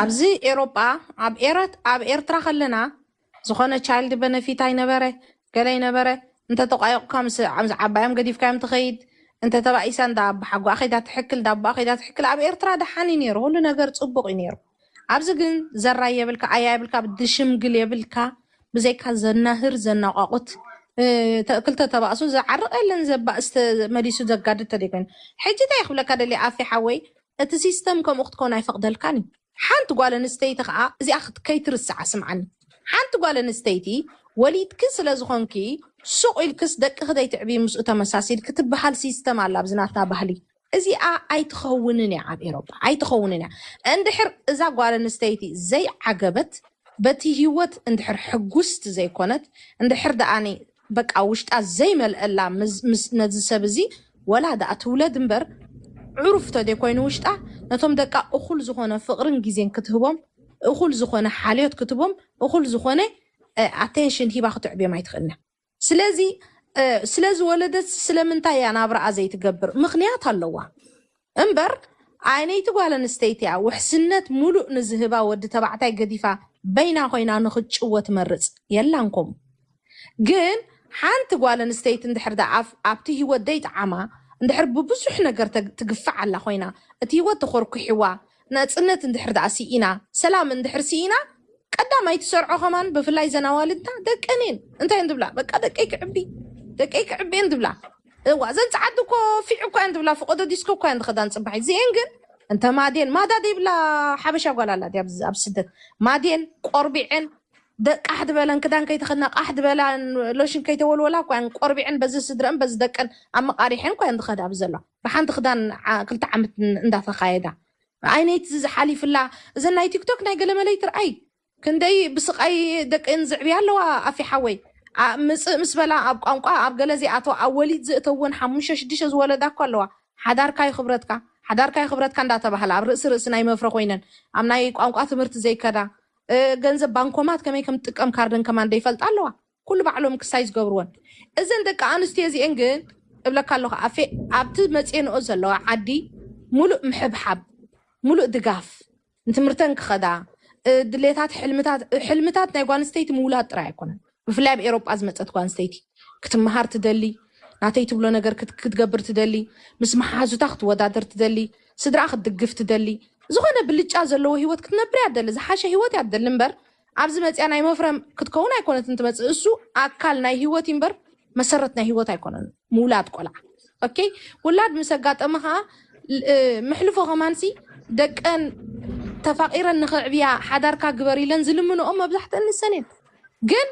ኣብዚ ኤሮጳ ኣብ ኤረት ኣብ ኤርትራ ከለና ዝኾነ ቻይልድ በነፊት ኣይነበረ ገለ ኣይነበረ እንተ ተቋዮቕካ ምስ ምስ ዓባዮም ገዲፍካዮም ትኸይድ እንተ ተባኢሳ እንዳ ኣባሓጎኣ ከይዳ ትሕክል እንዳ ኣቦኣ ከይዳ ትሕክል ኣብ ኤርትራ ደሓን እዩ ኔሩ ኩሉ ነገር ጽቡቕ እዩ ኔሩ ኣብዚ ግን ዘራይ የብልካ ኣያ የብልካ ድሽምግል የብልካ ብዘይካ ዘናህር ዘናቋቑት ክልተ ተባእሱ ዝዓርቕ የለን ዘባእስ መሊሱ ዘጋድድ ተደይ ኮይኑ ሕጂ እንታይ ክብለካ ደልየ ኣፌ ሓወይ እቲ ሲስተም ከምኡ ክትኮን ኣይፈቅደልካን እዩ ሓንቲ ጓል ኣንስተይቲ ከኣ እዚኣ ከይትርስዓ ስምዓኒ ሓንቲ ጓል ኣንስተይቲ ወሊድኪ ስለ ዝኮንኪ ሱቅ ኢልክስ ደቅኪ ዘይትዕብዪ ምስኡ ተመሳሲልኪ ትብሃል ሲስተም ኣላ ኣብዚ ናትና ባህሊ እዚኣ ኣይትከውንን እያ ኣብ ኤሮጳ ኣይትከውንን እያ እንድሕር እዛ ጓል ኣንስተይቲ ዘይዓገበት በቲ ሂወት እንድሕር ሕጉስቲ ዘይኮነት እንድሕር ደኣ በቃ ውሽጣ ዘይመልኣላ ምስ ነዚ ሰብ እዚ ወላ ደኣ ትውለድ እምበር ዕሩፍ ተደይ ኮይኑ ውሽጣ ነቶም ደቃ እኹል ዝኾነ ፍቕርን ግዜን ክትህቦም እኹል ዝኾነ ሓልዮት ክትቦም እኹል ዝኾነ ኣቴንሽን ሂባ ክትዕብዮም ኣይትኽእልን እያ ስለዚ ስለዝወለደት ስለምንታይ እያ ናብራኣ ዘይትገብር ምኽንያት ኣለዋ። እምበር ኣይነይቲ ጓል ኣንስተይቲ'ያ ውሕስነት ሙሉእ ንዝህባ ወዲ ተባዕታይ ገዲፋ በይና ኮይና ንኽትጭወ ትመርጽ የላን ኮምኡ ግን ሓንቲ ጓል ኣንስተይቲ እንድሕር ደኣ ኣብቲ ሂወት ደይጠዓማ እንድሕር ብብዙሕ ነገር ትግፋዕ ኣላ ኮይና እቲ ሂወት ተኾርኲሕዋ ናጽነት እንድሕር ደኣ ሲኢና ሰላም እንድሕር ሲኢና ቀዳማይ ትሰርዖ ከማን ብፍላይ ዘን ኣዋልድና ደቀን እየን እንታይ እየን ዝብላ በቃ ደቀይ ክዕቢ ደቀይ ክዕቢ እየን ዝብላ እዋ ዘን ጸዓዱ እኮ ፊዕ እኳ እየን ዝብላ ፍቆዶ ዲስኮ እኳ እየን ዝኸዳን ጽባሕ እዚኤን ግን እንተ ማዴን ማዳ ዘይብላ ሓበሻ ጓል ኣላ ድያ ኣብዚ- ኣብ ስደት ማዴን ቆርቢዐን ደ- ቃሕ ዝበለን ክዳን ከይተኸድና ቃሕ ዝበላን ሎሽን ከይተወልወላ እኳ እየን ቆርቢዐን በዚ ስድረን በዚ ደቀን ኣመቃሪሐን እኳ እየን ዝኸዳ ኣብዚ ዘለዋ ብሓንቲ ክዳን ክልተ ዓመት እንዳ ተካየዳ ኣይነይቲ እዚ ሓሊፍላ እዘን ናይ ቲክቶክ ናይ ገለመለይ ትርኣይ ክንደይ ብስቃይ ደቀን ዝዕብያ ኣለዋ ኣፊ ሓወይ ምጽእ ምስ በላ ኣብ ቋንቋ ኣብ ገለ ዚኣተው ኣብ ወሊድ ዝእተውን ሓሙሽተ ሽዱሽተ ዝወለዳ እኮ ኣለዋ ሓዳርካ ዩ ክብረትካ ሓዳርካ ዩ ክብረትካ እንዳ ተባህላ ኣብ ርእሲ ርእሲ ናይ መፍረ ኮይነን ኣብ ናይ ቋንቋ ትምህርቲ ዘይከዳ ገንዘብ ባንኮማት ከመይ ከም ትጥቀም ካርደን ከማን ደይፈልጣ ኣለዋ። ኩሉ ባዕሎም ክሳይ ዝገብርወን እዘን ደቂ ኣንስትዮ እዚኤን ግን እብለካ ኣለኹ ኣፌ ኣብቲ መፅኤንኦ ዘለዋ ዓዲ ሙሉእ ምሕብሓብ ሙሉእ ድጋፍ ንትምህርተን ክኸዳ ድሌታት ሕልምታት ሕልምታት ናይ ጓል ኣንስተይቲ ምውላድ ጥራይ ኣይኮነን ብፍላይ ኣብ ኤሮጳ ዝመፀት ጓል ኣንስተይቲ ክትምሃር ትደሊ ናተይ ትብሎ ነገር ክትገብር ትደሊ ምስ መሓዙታ ክትወዳደር ትደሊ ስድራ ክትድግፍ ትደሊ ዝኾነ ብልጫ ዘለዎ ሂወት ክትነብር እያ ትደሊ ዝሓሸ ሂወት እያ ትደሊ እምበር ኣብዚ መጺኣ ናይ መፍረ ክትከውን ኣይኮነትን ትመጽእ እሱ ኣካል ናይ ሂወት ኢምበር መሰረት ናይ ሂወት ኣይኮነን ምውላድ ቆልዓ ኦኬ ውላድ ምስ ኣጋጠመ ከኣ ምሕልፎ ከማንሲ ደቀን ተፋቂረን ንክዕብያ ሓዳርካ ግበር ኢለን ዝልምንኦ መብዛሕትእን ንሰን እየን ግን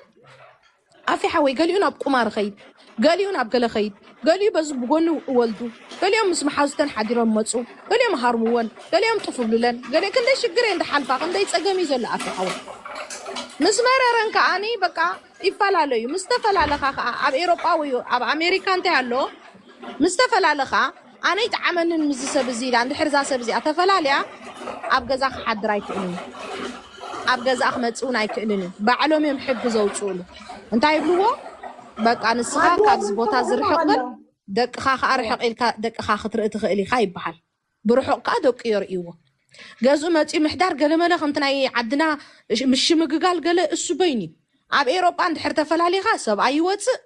ኣፊ ሓወይ ገሊኡ ናብ ቁማር ኸይድ ገሊኡ ናብ ገለ ኸይድ ገሊኡ በዚ ብጎኒ እወልዱ ገሊኦም ምስ መሓዙተን ሓዲሮም እመጹ ገሊኦም እሃርምወን ገሊኦም ጥፍ እብሉለን ገሊኦም ክንደይ ሽግር እየን ድሓልፋ ክንደይ ጸገም እዩ ዘሎ ኣፊ ሓወይ ምስ መረረን ከኣኒ በቃ ይፈላለዩ ምስ ተፈላለኻ ከኣ ኣብ ኤሮጳ ወይ ኣብ ኣሜሪካ እንታይ ኣሎ ምስ ተፈላለኻ ኣነ ኣይጠዓመንን ምስዚ ሰብ እዚ ኢላ እንድሕር እዛ ሰብ እዚኣ ተፈላልያ ኣብ ገዛ ክሓድር ኣይክእልን እዩ ኣብ ገዛኣ ክመጽእ እውን ኣይክእልን እዩ ባዕሎም እዮም ሕጊ ዘውጽኡሉ እንታይ ይብልዎ በቃ ንስኻ ካብዚ ቦታ እዚ ርሕቕ በል ደቅኻ ከዓ ርሕቕ ኢልካ ደቅኻ ክትርኢ ትኽእል ኢኻ ይበሃል ብርሑቕ ከዓ ደቁ የርእይዎ ገዝኡ መፂኡ ምሕዳር ገለመለ ከምቲ ናይ ዓድና ምሽምግጋል ገለ እሱ በይኑ እዩ ኣብ ኤሮጳ እንድሕር ተፈላሊኻ ሰብኣይ ይወፅእ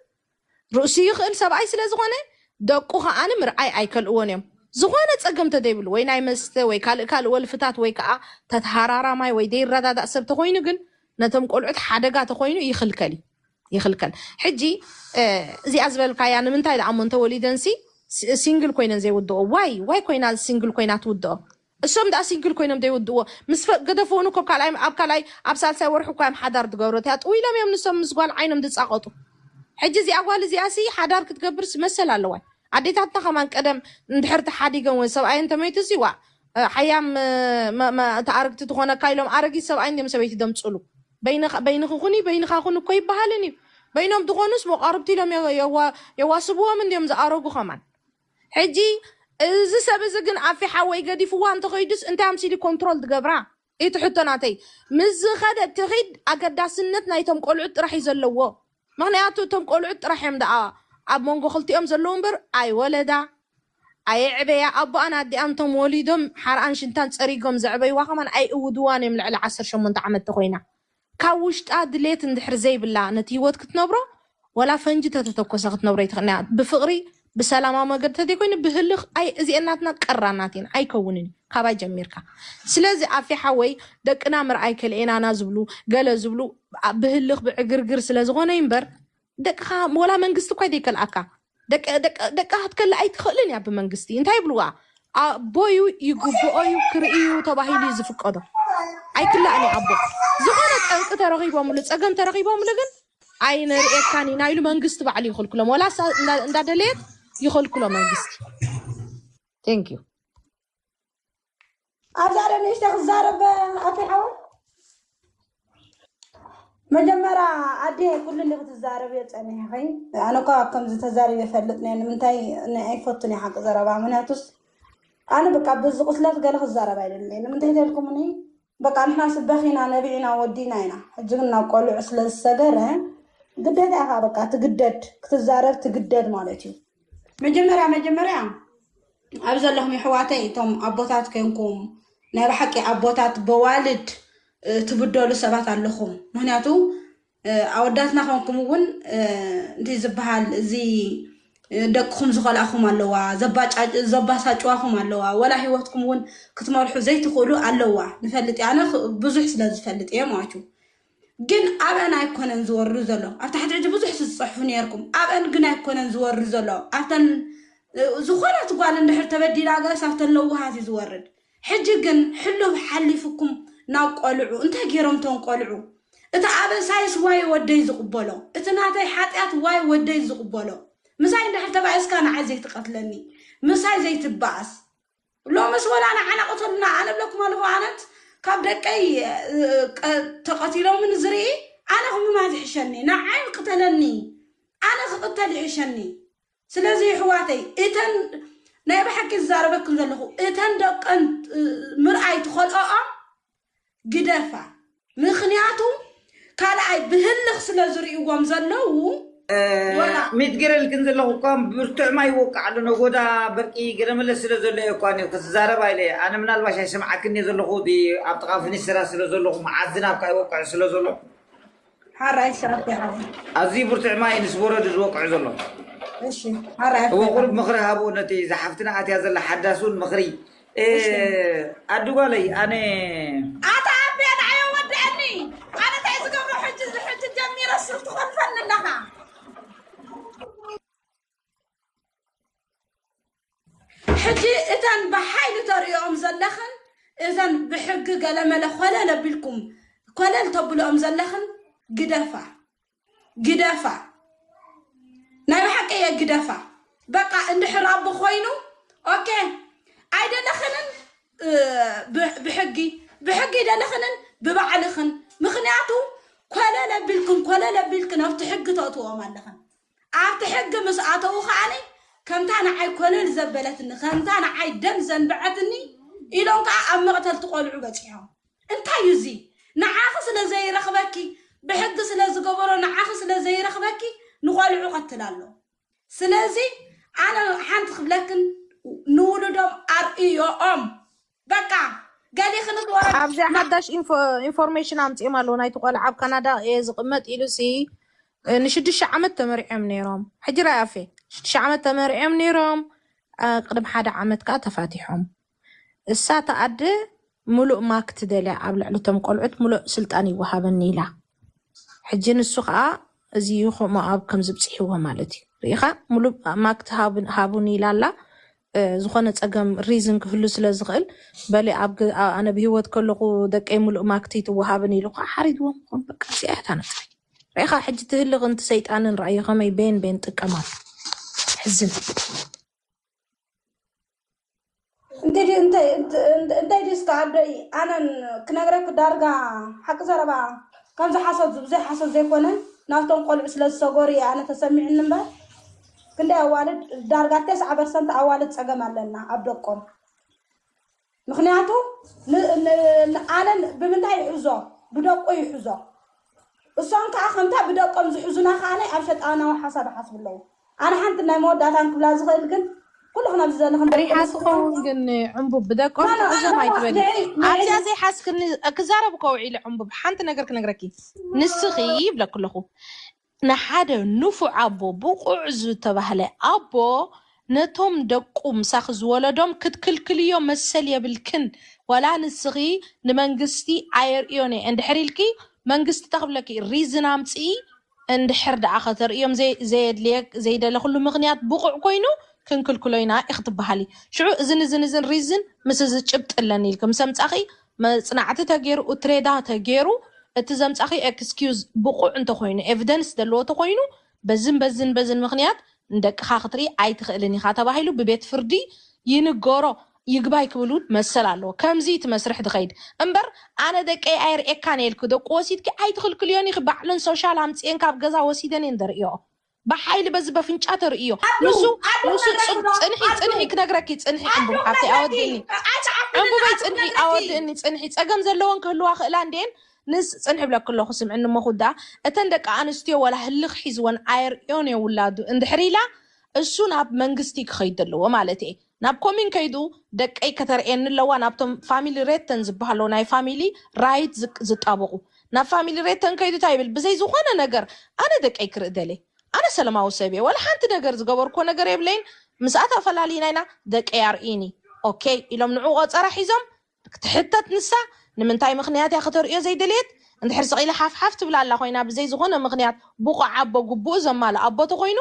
ርእሱ ይኽእል ሰብኣይ ስለ ዝኾነ ደቁ ከኣ ምርኣይ ኣይከልእዎን እዮም ዝኾነ ጸገም ተዘይብሉ ወይ ናይ መስተ ወይ ካልእ ካልእ ወልፍታት ወይ ከኣ ተትሃራራማይ ወይ ዘይረዳዳእ ሰብ ተኾይኑ ግን ነቶም ቆልዑት ሓደጋ ተኾይኑ ይኽልከል እዩ ይኽልከል ሕጂ እዚኣ ዝበልካያ ንምንታይ ደኣ እሞ እንተወሊደንሲ ሲንግል ኮይነን ዘይውድኦ ዋይ ዋይ ኮይና ሲንግል ኮይና ትውድኦ እሶም ድኣ ሲንግል ኮይኖም ደይውድእዎ ምስ ገደፍዎ ን ኮብካልኣይ ኣብ ካልኣይ ኣብ ሳልሳይ ወርሑ እኳዮም ሓዳር ድገብሩ እቲኣ ጥውይሎም እዮም ንሶም ምስ ጓል ዓይኖም ድጻቀጡ ሕጂ እዚኣ ጓል እዚኣ ሲ ሓዳር ክትገብርስ መሰል ኣለዋይ ኣዴታትና ከማን ቀደም እንድሕር ተሓዲገን ወይ ሰብኣየን ተመይቱ ሲ ዋእ ሓያም እቲ ኣርግቲ ትኮነካ ኢሎም ኣረጊት ሰብኣይ እንድዮም ሰበይቲ ደምጹሉ በይንኪ ኩኒ በይንካ ኩን እኮ ኣይባሃልን እዩ በይኖም ድኮኑስ መቋርብቲ ኢሎም የዋስብዎም እንድዮም ዝኣረጉ ከማን ሕጂ እዚ ሰብ እዚ ግን ኣፊ ሓወይ ገዲፍዋ እንተ ከይዱስ እንታይ ኣምሲሉ እዩ ኮንትሮል ዝገብራ ኢቲ ሕቶ ናተይ ምስ ዝከደት ትኪድ ኣገዳስነት ናይቶም ቆልዑት ጥራሕ እዩ ዘለዎ ምክንያቱ እቶም ቆልዑት ጥራሕ እዮም ደኣ ኣብ መንጎ ክልቲኦም ዘለዉ እምበር ኣይወለዳ ኣየዕበያ ኣቦኣን ኣዲኣን እቶም ወሊዶም ሓርኣን ሽንታን ጸሪጎም ዘዕበይዋ ከማን ኣይእውድዋን እዮም ልዕሊ ዓሰርተ ሸሞንተ ዓመት ተኮይና ካብ ውሽጣ ድሌት እንድሕር ዘይብላ ነቲ ሂወት ክትነብሮ ዋላ ፈንጂ ተተተኮሰ ክትነብሮ ኣይትኽእልን እያ ብፍቅሪ ብሰላማዊ መገዲ ተዘይኮይኑ ብህልኽ ኣይ እዚኤን ናትና ቀራናት እየን ኣይከውንን እዩ ካባይ ጀሚርካ ስለዚ ኣፌ ሓወይ ደቅና ምርኣይ ከልኤናና ዝብሉ ገለ ዝብሉ ብህልኽ ብዕግርግር ስለዝኾነ እዩ እምበር ደቅኻ ወላ መንግስቲ እኳ ዘይከልኣካ ደቃ ክትከል ኣይትኽእልን እያ ብመንግስቲ እንታይ ይብልዋ ኣቦዩ ይግብኦዩ ክርእዩ ተባሂሉ እዩ ዝፍቀዶ ኣይክላእን እዩ ኣቦ ዝኾነ ጠንቂ ተረኺቦምሉ ፀገም ተረኺቦምሉ ግን ኣይነርእየካን ኢና ኢሉ መንግስቲ ባዕሉ ይኽልክሎም ወላ እንዳደለየት ይኽልክሎ መንግስቲ ቴንክ ዩ ኣብዛ ዶ ንእሽተ ክዛረብ ኣቶ ሓወ መጀመርያ ኣዴ ኩሉ እንዲ ክትዛረብዮ ፀኒሐኺ ኣነ እኳ ከምዚ ተዛሪበ ይፈልጥ ነ ንምንታይ ኣይፈቱን እየ ሓቂ ዘረባ ምክንያቱስ ኣነ በቃ ብዚ ቁስለት ገለ ክዛረብ ኣይደለይ ንምንታይ ተልኩምኒ በቃ ንሕናስ በኺና ነቢዕና ወዲእና ኢና ሕጂ ግን ናብ ቆልዑ ስለ ዝሰገረ ግዴታ ኢኻ በቃ ትግደድ ክትዛረብ ትግደድ ማለት እዩ መጀመርያ መጀመርያ ኣብ ዘለኹም የሕዋተይ እቶም ኣቦታት ኮንኩም ናይ ብሓቂ ኣቦታት በዋልድ ትብደሉ ሰባት ኣለኹም ምክንያቱ ኣወዳትና ኮንኩም እውን እንታይ ዝበሃል እዚ ደቅኹም ዝኸልኣኹም ኣለዋ ዘባሳጭዋኹም ኣለዋ ወላ ሂወትኩም እውን ክትመርሑ ዘይትኽእሉ ኣለዋ ንፈልጥ ኣነ ብዙሕ ስለ ዝፈልጥ እየ ማለት እዩ ግን ኣብአን ኣይኮነን ዝወርዱ ዘሎ ኣብ ታሕቲ ሕጂ ብዙሕ ዝፅሕፉ ነርኩም ኣብአን ግን ኣይኮነን ዝወርዱ ዘሎ ኣብተን ዝኾነት ጓል እንድሕር ተበዲላ ጋስ ኣብተን ለዋሃት እዩ ዝወርድ ሕጂ ግን ሕሉፍ ሓሊፉኩም ናብ ቆልዑ እንታይ ጌሮም እቶም ቆልዑ እቲ ኣበሳይስ ዋይ ወደይ ዝቅበሎ እቲ ናተይ ሓጥያት ዋይ ወደይ ዝቅበሎ ምሳይ እንድሕር ተባኢስካ ንዓይ ዘይትቀትለኒ ምሳይ ዘይትባኣስ ሎምስ ወላ ንዓና ቅተሉና ኣነ እብለኩም ኣለኹ ኣነት ካብ ደቀይ ተቀቲሎምን ዝርኢ ኣነ ክምማት ይሕሸኒ ንዓይ ቅተለኒ ኣነ ክቅተል ይሕሸኒ ስለዚ ይሕዋተይ እተን ናይ ብሓቂ ዝዛረበክን ዘለኹ እተን ደቀን ምርኣይ ትኸልኦኦም ግደፋ ምክንያቱ ካልኣይ ብህልኽ ስለ ዝርእዎም ዘለዉ ሚትግርል ግን ዘለኹ እኳ ብርቱዕ ማይ ይወቅዕ ኣሎ ነጎዳ በርቂ ገለመለ ስለ ዘሎ እየ እኳ ኒው ክትዛረብ ኣይለ ኣነ ምናልባሽ ኣይሰምዓክን እየ ዘለኹ እቲ ኣብ ጥቓ ፍኒስራ ስለ ዘለኹ መዓት ዝናብ ካኣ ይወቅዕ ስለ ዘሎ ሓራይ ሸራፍ ይሓብ ኣዝዩ ብርቱዕ ማይ ምስ በረድ እዩ ዝወቅዑ ዘሎ። እሺ ሓራይ እወ ቁሩብ ምኽሪ ሃቡ ነቲ ዝሓፍትና ኣትያ ዘላ ሓዳስ እውን ምኽሪ እ፣ ኣዱ ጓለይ ኣነ ኣታ ኣቤ ንዓዮ ወድኣኒ ኣነ እንታይ ዝገብሮ ሕጂ ሕጂ ጀሚረ ሱር ትኾልፈኒ ኣለኻ ሕጂ እተን ብሓይሊ ተርእዮኦም ዘለኽን እተን ብሕጊ ገለመለ ኮለል ኣቢልኩም ኮለል ተብልኦም ዘለኽን ግደፋ ግደፋ ናይ ብሓቂ እየ ግደፋ በቃ እንድሕር ኣቦ ኮይኑ ኦኬ ኣይደለኽንን ብሕጊ ብሕጊ ደለኽንን ብባዕልኽን ምክንያቱ ኮለለ ቢልክን ኮለለ ቢልክን ኣብቲ ሕጊ ተእትዎም ኣለኽን ኣብቲ ሕጊ ምስ ኣተዉ ከኣ ከምታ ንዓይ ኮለል ዘበለትኒ ከምታ ንዓይ ደም ዘንበዐትኒ ኢሎም ከኣ ኣብ መቕተልቲ ቆልዑ በጺሖም። እንታይ እዩ እዚ? ንዓኺ ስለ ዘይረኽበኪ ብሕጊ ስለ ዝገበሮ ንዓኺ ስለ ዘይረኽበኪ ንቆልዑ ቀትል ኣሎ። ስለዚ ኣነ ሓንቲ ክብለክን ንውሉዶም ኣርእዮኦም። በቃ ገሊክንስ ወረድ ኣብዚ ሓዳሽ ኢንፎርሜሽን ኣምፂኦም ኣለዉ ናይቲ ቆልዓ ኣብ ካናዳ እየ ዝቕመጥ ኢሉሲ ንሽዱሽተ ዓመት ተመሪዖም ነይሮም ሕጂ ራይ ኣፌ ሽዱሽተ ዓመት ተመሪዖም ነይሮም ቅድም ሓደ ዓመት ከዓ ተፋቲሖም እሳ ተኣደ ምሉእ ማክ ትደልያ ኣብ ልዕሊ እቶም ቆልዑት ምሉእ ስልጣን ይወሃበኒ ኢላ ሕጂ ንሱ ከኣ እዚ እዩ ሞኣብ ከምዚ ብጺሕዎ ማለት እዩ ርኢኻ ሙሉእ ኣማክት ሃብ- ሃቡኒ ኢላ ኣላ እ፣ ዝኾነ ጸገም ሪዝን ክህሉ ስለ ዝኽእል በሊ ኣብ ገ- ኣ- ኣነ ብሂወት ከለኹ ደቀይ ሙሉእ ማክት ይትወሃብኒ ኢሉ ከኣ ሓሪድዎም ይኾን በቃ እዚኣ እያ እታ ነጥቢ ርኢኻ ሕጂ እቲ ህልኽን እቲ ሰይጣንን ረኣዮ ከመይ ቤን ቤን ጥቀማሉ ሕዝን እንግዲህ እንታይ እንታይ ድዩ እስከ ኣዶይ ኣነን ክነግረክ ዳርጋ ሓቂ ዘረባ ከምዚ ሓሶት ብዘይ ሓሶት ዘይኮነ ናብቶም ቆልዑ ስለ ዝሰገሩ እየ ኣነ ተሰሚዕኒ እምበር ክንደይ ኣዋልድ ዳርጋ ተስዓ ፐርሰንት ኣዋልድ ፀገም ኣለና ኣብ ደቆም ምክንያቱ ኣነ ብምንታይ ይሕዞ ብደቁ ይሕዞ እሶም ከዓ ከምታ ብደቆም ዝሕዙና ከዓ ኣብ ሸጣናዊ ሓሳብ ይሓስቡ ኣለዉ ኣነ ሓንቲ ናይ መወዳእታ ክብላ ዝኽእል ግን ኩሉኹም ኣብዚ ዘለኹም ፈሪሓ ትኸውን ግን ዕንቡብ ብደቆም ትዕዘብ ኣይትበሊ ኣብዚኣ ዘይሓዝክኒ ክዛረብ እኮ ውዒለ ዕንቡብ ሓንቲ ነገር ክነግረኪ ንስኺ ይብለኪ ኣለኹ ንሓደ ንፉዕ ኣቦ ብቑዕ ዝተባህለ ኣቦ ነቶም ደቁ ምሳኺ ዝወለዶም ክትክልክልዮ መሰል የብልክን ዋላ ንስኺ ንመንግስቲ ኣየርእዮን እየ እንድሕር ኢልኪ መንግስቲ እንታይ ክብለኪ እዩ ሪዝን ኣምፅኢ እንድሕር ደኣ ከተርእዮም ዘይደለኹሉ ምኽንያት ብቑዕ ኮይኑ ክንክልክሎ ኢና ኢኺ ትበሃሊ። ሽዑ እዝን እዝን እዝን ሪዝን ምስ እዚ ጭብጢ ኣለኒ ኢልኪ ምስ ኣምጻኺ መጽናዕቲ ተገይሩ እትሬዳ ተገይሩ እቲ ዘምጻኺዮ ኤክስኪዩዝ ብቑዕ እንተኾይኑ ኤቭደንስ ዘለዎ ተኾይኑ በዝን በዝን በዝን ምኽንያት ንደቅኻ ክትርኢ ኣይትኽእልን ኢኻ ተባሂሉ ብቤት ፍርዲ ይንገሮ። ይግባይ ክብል ውን መሰል ኣለዎ ከምዚ እቲ መስርሕ ድከይድ እምበር ኣነ ደቀይ ኣይርእየካን እየ ኢልኪ ደቁ ወሲድኪ ኣይትክልክልዮን ኢኪ ባዕለን ሶሻል ኣምጺኤን ካብ ገዛ ወሲደን እየን ደርእየኦ ብሓይሊ በዚ በፍንጫ ተርእይዮ ንሱ ንሱ ጽንሒ ጽንሒ ክነግረኪ ጽንሒ ዕንቡብ ሓፍተይ ኣወድእኒ ዕንቡበይ ጽንሒ ኣወድእኒ ጽንሒ ጸገም ዘለወን ክህልዋ ክእላ እንድየን ንስ ጽንሒ ብለኪ ኣለኩ ስምዕኒ እሞ ክውድኣ እተን ደቂ ኣንስትዮ ዋላ ህልኽ ሒዝወን ኣየርእዮን እየ ውላዱ እንድሕር ኢላ እሱ ናብ መንግስቲ ክከይድ ኣለዎ ማለት እየ ናብ ኮምዩን ከይዱ ደቀይ ከተርእየኒ ኣለዋ ናብቶም ፋሚሊ ሬተን ዝበሃሎ ናይ ፋሚሊ ራይት ዝጣበቁ ናብ ፋሚሊ ሬተን ከይዱ ታይ ይብል ብዘይ ዝኾነ ነገር ኣነ ደቀይ ክርኢ ደልየ ኣነ ሰለማዊ ሰብ እየ ዋላ ሓንቲ ነገር ዝገበርኩዎ ነገር የብለይን ምስኣ ተፈላሊና ኢና ደቀይ ኣርእይኒ ኦከይ ኢሎም ንዑ ቆፀራ ሒዞም ትሕተት ንሳ ንምንታይ ምኽንያት እያ ከተርእዮ ዘይደለየት እንድሕር ስቅ ኢላ ሓፍ ሓፍ ትብል ኣላ ኮይና ብዘይ ዝኾነ ምኽንያት ቡቁዕ ኣቦ ግቡኡ ዘማልእ ኣቦ ተኾይኑ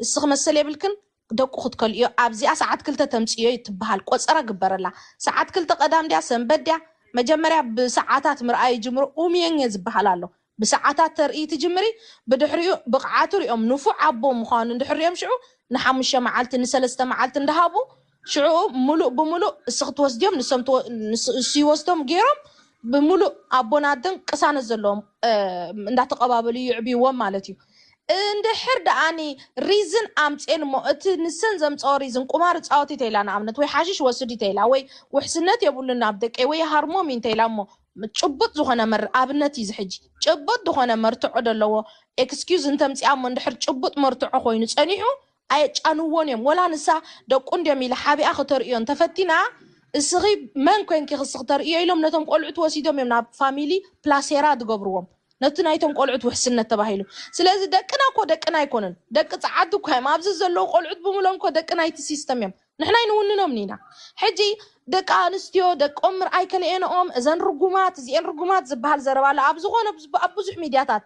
እስኺ መሰል የብልክን ደቁ ክትከልእዮ ኣብዚኣ ሰዓት ክልተ ተምጽእዮ ትበሃል ቆጸራ ግበረላ ሰዓት ክልተ ቀዳም ድያ ሰንበት ድያ መጀመርያ ብሰዓታት ምርኣይ ይጅምሩ ኡምየኘ ዝበሃል ኣሎ ብሰዓታት ተርእይ ትጅምሪ ብድሕሪኡ ብቅዓቱ ሪኦም ንፉዕ ኣቦ ምዃኑ እንድሕር ሪኦም ሽዑ ንሓሙሸ መዓልቲ ንሰለስተ መዓልቲ እንዳሃቡ ሽዑ ምሉእ ብምሉእ እስኺ ትወስድዮም ንሶም ንሱ ይወስዶም ጌሮም ብምሉእ ኣቦን ኣደን ቅሳነት ዘለዎም እንዳተቀባበሉ ይዕብይዎም ማለት እዩ። እንድሕር ደኣኒ ሪዝን ኣምጼን እሞ እቲ ንሰን ዘምጸኦ ሪዝን ቁማር እጻወት ኢተይላ ንኣብነት ወይ ሓሽሽ ወስድ ኢተይላ ወይ ውሕስነት የብሉን ኣብ ደቀይ ወይ ይሃርሞም ኢዩ እንተይላ እሞ ጭቡጥ ዝኾነ መር ኣብነት ኢዩ እዚ ሕጂ ጭቡጥ ድኾነ መርትዖ ደለዎ ኤክስኪዩዝ እንተምጺኣ እሞ እንድሕር ጭቡጥ መርትዖ ኮይኑ ጸኒሑ ኣየጫንዎን እዮም ወላ ንሳ ደቁ እንድዮም ኢላ ሓቢኣ ክተርእዮ እንተፈቲና እስኺ መን ኮንኪ ክሲ ክተርእዮ ኢሎም ነቶም ቆልዑት ወሲዶም እዮም ናብ ፋሚሊ ፕላሴራ ድገብርዎም ነቲ ናይቶም ቆልዑት ውሕስነት ተባሂሉ ስለዚ ደቅና እኮ ደቅና ኣይኮኑን ደቂ ጸዓዱ እኳ እዮም ኣብዚ ዘለዉ ቆልዑት ብምሎም እኮ ደቂ ናይቲ ሲስተም እዮም ንሕና ኣይንውንኖም ኒና ሕጂ ደቂ ኣንስትዮ ደቆም ምርኣይ ከነኤንኦም እዘን ርጉማት እዚኤን ርጉማት ዝበሃል ዘረባ ኣሎ ኣብ ዝኾነ ኣብ ብዙሕ ሚድያታት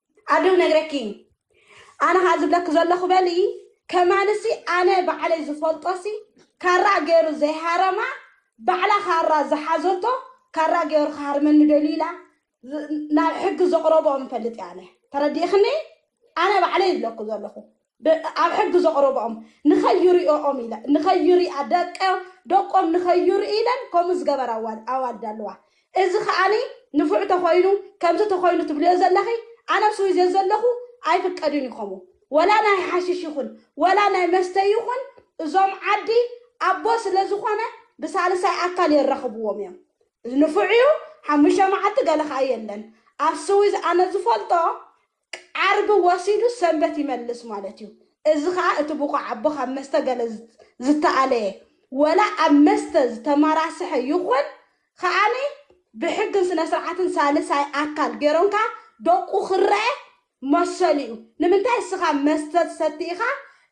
ኣደው ነግረኪ ኣነ ካ ዝብለኪ ዘለኹ በሊ ከማንሲ ኣነ ባዕለይ ዝፈልጦሲ ካራ ገይሩ ዘይሃረማ ባዕላ ካራ ዝሓዘቶ ካራ ገይሩ ክሃርመኒ ደልዩ ኢላ ናብ ሕጊ ዘቕረብኦም እፈልጥ ኣነ ተረዲእክኒ ኣነ ባዕለይ ይብለኩ ዘለኹ ኣብ ሕጊ ዘቕረበኦም ንኸይሪኦኦም ኢለ ንኸይሪኣ ደቀ ደቆም ንኸይርኢ ኢለን ከምኡ ዝገበራ ኣዋልድ ኣለዋ እዚ ከኣኒ ንፉዕ ተኾይኑ ከምዚ ተኾይኑ ትብልዮ ዘለኺ ኣነ ኣብ ስዊዘ ዘለኹ ኣይፍቀድን እዩ ከምኡ ወላ ናይ ሓሽሽ ይኹን ወላ ናይ መስተ ይኹን እዞም ዓዲ ኣቦ ስለ ዝኾነ ብሳልሳይ ኣካል የራኽብዎም እዮም ንፉዕ እዩ ሓሙሽተ መዓልቲ ገለ ከኣ የለን ኣብ ስዊዝ ኣነ ዝፈልጦ ዓርቢ ወሲዱ ሰንበት ይመልስ ማለት እዩ። እዚ ከኣ እቲ ብቑዕ ኣቦ ካብ መስተ ገለ ዝተኣለየ ወላ ኣብ መስተ ዝተመራስሐ ይኹን ከኣ ብሕግን ስነስርዓትን ሳልሳይ ኣካል ገይሮንካ ደቁ ክረኤ መሰሉ እዩ። ንምንታይ እስኻ መስተ ትሰቲ ኢኻ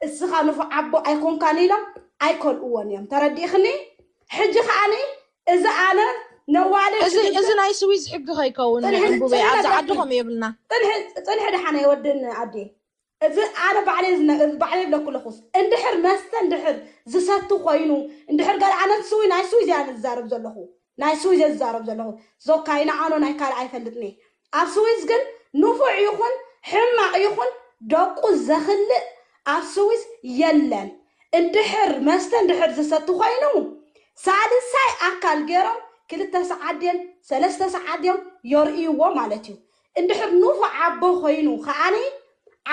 እስኻ ንፉዕ ኣቦ ኣይኮንካን ኢሎም ኣይከልእዎን እዮም። ተረዲእኽኒ? ሕጂ ከኣ እዚ ኣነ ነዋለ እዚ እዚ ናይ ስዊዝ ሕጊ ከይከውን ዕንቡበይ ኣብዚ ዓዲ ከምኡ የብልና ፅንሒ ድሓነ የወድን ኣዴ እዚ ኣነ ባዕለይ ባዕለይ ብለኩ ኣለኹስ እንድሕር መስተ እንድሕር ዝሰቲ ኮይኑ እንድሕር ገለ ኣነ ስዊ ናይ ስዊዝ እያ ዝዛረብ ዘለኹ ናይ ስዊዝ እየ ዝዛረብ ዘለኹ ዞካይ ንዓኖ ናይ ካልእ ኣይፈልጥኒ ኣብ ስዊዝ ግን ንፉዕ ይኹን ሕማቕ ይኹን ደቁ ዘኽልእ ኣብ ስዊዝ የለን እንድሕር መስተ እንድሕር ዝሰቲ ኮይኑ ሳልሳይ ኣካል ጌሮም ክልተ ሰዓት ድየን ሰለስተ ሰዓት ድዮም የርእይዎ ማለት እዩ እንድሕር ንፉዕ ኣቦ ኮይኑ ከኣ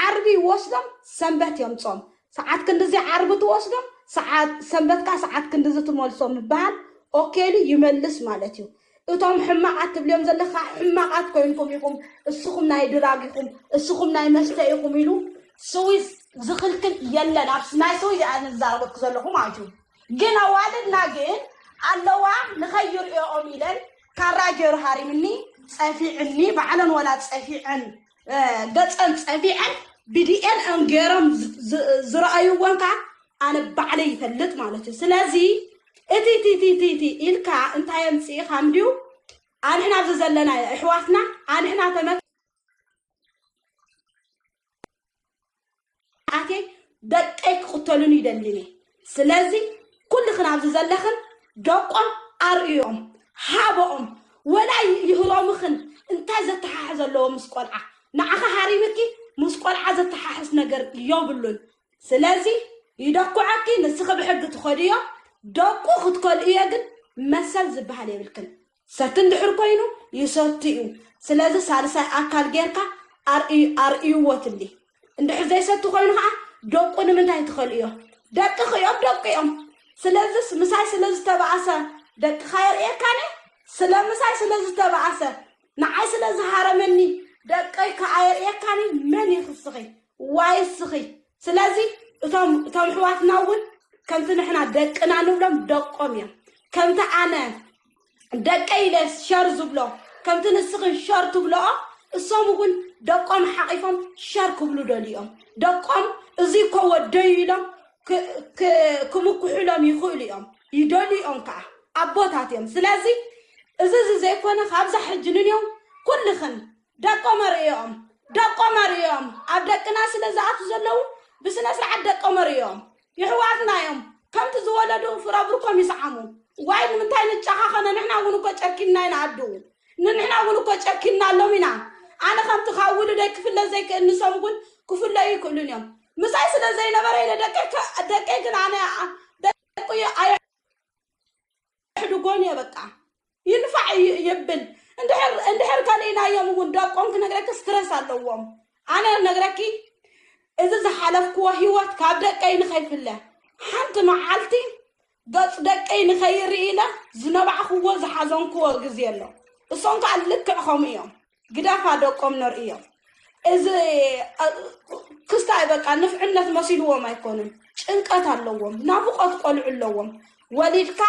ዓርቢ ይወስዶም ሰንበት የምጽኦም ሰዓት ክንድዚ ዓርቢ ትወስዶም ሰዓት ሰንበት ከኣ ሰዓት ክንድዚ ትመልሶም ምብሃል ኦኬሉ ይመልስ ማለት እዩ እቶም ሕማቃት ትብልዮም ዘለካ ሕማቃት ኮይንኩም ኢኩም እስኩም ናይ ድራግ ኢኩም እስኩም ናይ መስተ ኢኩም ኢሉ ስዊዝ ዝክልክል የለን ኣብ ናይ ስዊዝ እያ ኣነ ዝዛረበኩ ዘለኩ ማለት እዩ ግን ኣዋልድና ግን ኣለዋ ንከይርእኦም ኢለን ካራ ገይሩ ሃሪምኒ ጸፊዕኒ ባዕለን ወላ ጸፊዐን ገፀን ፀቢቐን ብዲኤን እም ገይሮም ዝረኣይዎን ከዓ ኣነ ባዕለይ ይፈልጥ ማለት እዩ ስለዚ እቲ እቲ እቲ እቲ እቲ ኢልካ እንታይ ኣምፅኢኻ እንድዩ ኣንሕና ኣብዚ ዘለና ኣሕዋትና ኣንሕና ተመ ኣትየ ደቀይ ክቕተሉን ይደልን እየ ስለዚ ኩልኽን ኣብዚ ዘለኽን ደቆም ኣርእዮም ሃበኦም ወላ ይህሮምኽን እንታይ ዘተሓሕዝ ኣለዎ ምስ ቆልዓ ንዓኻ ሃሪምኪ ምስ ቆልዓ ዘተሓሕስ ነገር የብሉን ስለዚ ይደኩዐኪ ንስኺ ብሕጊ ትኸድዮ ደቁ ክትከልእዮ ግን መሰል ዝበሃል የብልክን ሰቲ እንድሕር ኮይኑ ይሰቲ እዩ ስለዚ ሳልሳይ ኣካል ጌርካ ኣርእይዎ ትብሊ እንድሕር ዘይሰቲ ኮይኑ ከዓ ደቁ ንምንታይ ትኸልእዮ ደቂ ክዮም ደቂ እዮም ስለዚስ ምሳይ ስለ ዝተባኣሰ ደቅኻ የርእየካኒ ስለ ምሳይ ስለ ዝተባኣሰ ንዓይ ስለ ዝሃረመኒ ደቀይ ከዓ የርእየካኒ መን ይኽስኺ ዋይ ስኺ ስለዚ እቶም እቶም ሕዋትና እውን ከምቲ ንሕና ደቅና ንብሎም ደቆም እዮም ከምቲ ኣነ ደቀይ ኢለ ሸር ዝብሎ ከምቲ ንስኽን ሸር ትብልኦ እሶም እውን ደቆም ሓቂፎም ሸር ክብሉ ደልዩ እዮም ደቆም እዙይ እኮ ወደዩ ኢሎም ክምኩሑሎም ይኽእሉ እዮም ይደልዩ እዮም ከዓ ኣቦታት እዮም ስለዚ እዚ እዚ ዘይኮነ ካብዛ ሕጂ ንንዮም ኩልኽን ደቆም ኣርእዮም ደቆም ኣርእዮም ኣብ ደቅና ስለ ዝኣቱ ዘለዉ ብስነ ስርዓት ደቆም ኣርእዮም የሕዋትና እዮም ከምቲ ዝወለዱ ፍረ ብርኮም ይስዓሙ ዋይ ንምንታይ ንጨኻኸነ ንሕና እውን እኮ ጨኪንና ኢና ኣዱ ንንሕና እውን እኮ ጨኪንና ኣሎም ኢና ኣነ ከምቲ ካብ ውሉደይ ክፍለ ዘይክእል ንሶም እውን ክፍለዩ ይክእሉን እዮም ምሳይ ስለ ዘይነበረ ኢለ ደቀይ ከ- ደቀይ ግን ኣነ ደቂ ኣየ ኣሕድጎን እየ በቃ ይንፋዕ እዩ ይብል እንድሕር እንድሕር ከሊእናዮም እውን ደቆም ክነግረኪ ስትረስ ኣለዎም ኣነ ነግረኪ እዚ ዝሓለፍክዎ ሂወት ካብ ደቀይ ንኸይፍለ ሓንቲ መዓልቲ ገፅ ደቀይ ንኸይርኢ ኢለ ዝነባዕክዎ ዝሓዘንክዎ ግዜ ኣሎ እሶም ከዓ ልክዕ ከምኡ እዮም ግደፋ ደቆም ነርእዮም እዚ ክስታይ በቃ ንፍዕነት መሲልዎም ኣይኮኑን ጭንቀት ኣለዎም ናፍቆት ቆልዑ ኣለዎም ወሊድካ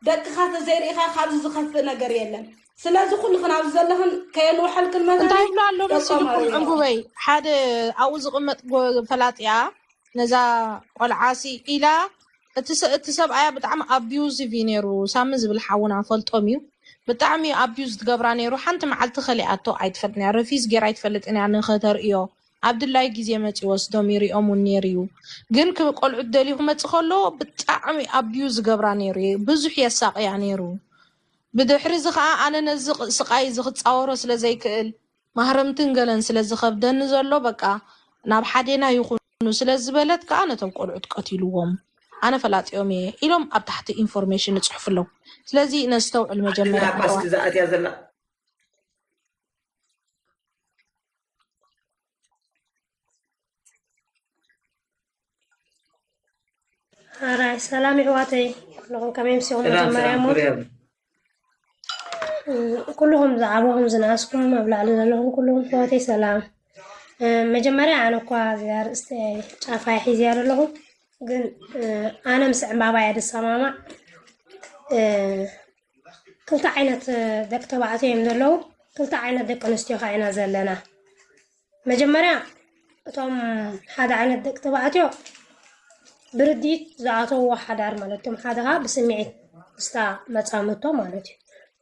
ደቅኻ ተዘይርኢኻ ካብዚ ዝኸፍእ ነገር የለን ስለዚ ኩልኽን ኣብዚ ዘለኽን ከየንውሐልክን መታን እንታይ ይብሎ ኣሎ መሲልኩም ዕንጉበይ ሓደ ኣብኡ ዝቕመጥ ፈላጢያ ነዛ ቆልዓሲ ኢላ እቲ ሰ እቲ ሰብኣያ ብጣዕሚ ኣቢዩዚቭ እዩ ነይሩ ሳሚ ዝብል ሓውና ፈልጦም እዩ ብጣዕሚ እዩ ኣቢዩዝ ትገብራ ነይሩ ሓንቲ መዓልቲ ከሊኣቶ ኣይትፈልጥን እያ ረፊዝ ጌራ ኣይትፈልጥን እያ ንኸተርእዮ ኣብ ድላይ ግዜ መጺኡ ወስዶም ይርእዮም እውን ነይሩ እዩ ግን ክ- ቆልዑት ደልዩ ክመጽእ ከሎ ብጣዕሚ ኣቢዩዝ ዝገብራ ነይሩ እዩ ብዙሕ የሳቕያ ነይሩ ብድሕሪ እዚ ከዓ ኣነ ነዚ ቕ- ስቓይ እዚ ክፃወሮ ስለ ዘይክእል ማህረምትን ገለን ስለ ዝኸብደኒ ዘሎ በቃ ናብ ሓዴና ይኹኑ ስለ ዝበለት ከኣ ነቶም ቆልዑት ቀቲልዎም ኣነ ፈላጢኦም እየ ኢሎም ኣብ ታሕቲ ኢንፎርሜሽን እጽሕፍሎም ስለዚ ነስተውዕል መጀመርያ ኣሕዋት ዓድና ኳስኪ ዝኣትያ ዘላ ራይ ሰላም ይሕዋተይ ኩልኹም ከመይ ምስኹም መጀመርያ እሞ ኩልኹም ዝዓበኹም ዝነኣስኩም ኣብ ላዕሊ ዘለኹም ኩልኹም ሕዋተይ ሰላም መጀመርያ ኣነ እኳ እዚኣ ርእስተ ጫፋይ ሒዝያ ዘለኹ ግን ኣነ ምስ ዕምባባ እያ ዝሰማማዕ ክልተ ዓይነት ደቂ ተባዕትዮ እዮም ዘለዉ ክልተ ዓይነት ደቂ ኣንስትዮ ከዓ ኢና ዘለና መጀመርያ እቶም ሓደ ዓይነት ደቂ ተባዕትዮ ብርድኢት ዝኣተዎ ሓዳር ማለት እቶም ሓደ ከዓ ብስምዒት ምስታ መፃምቶ ማለት እዩ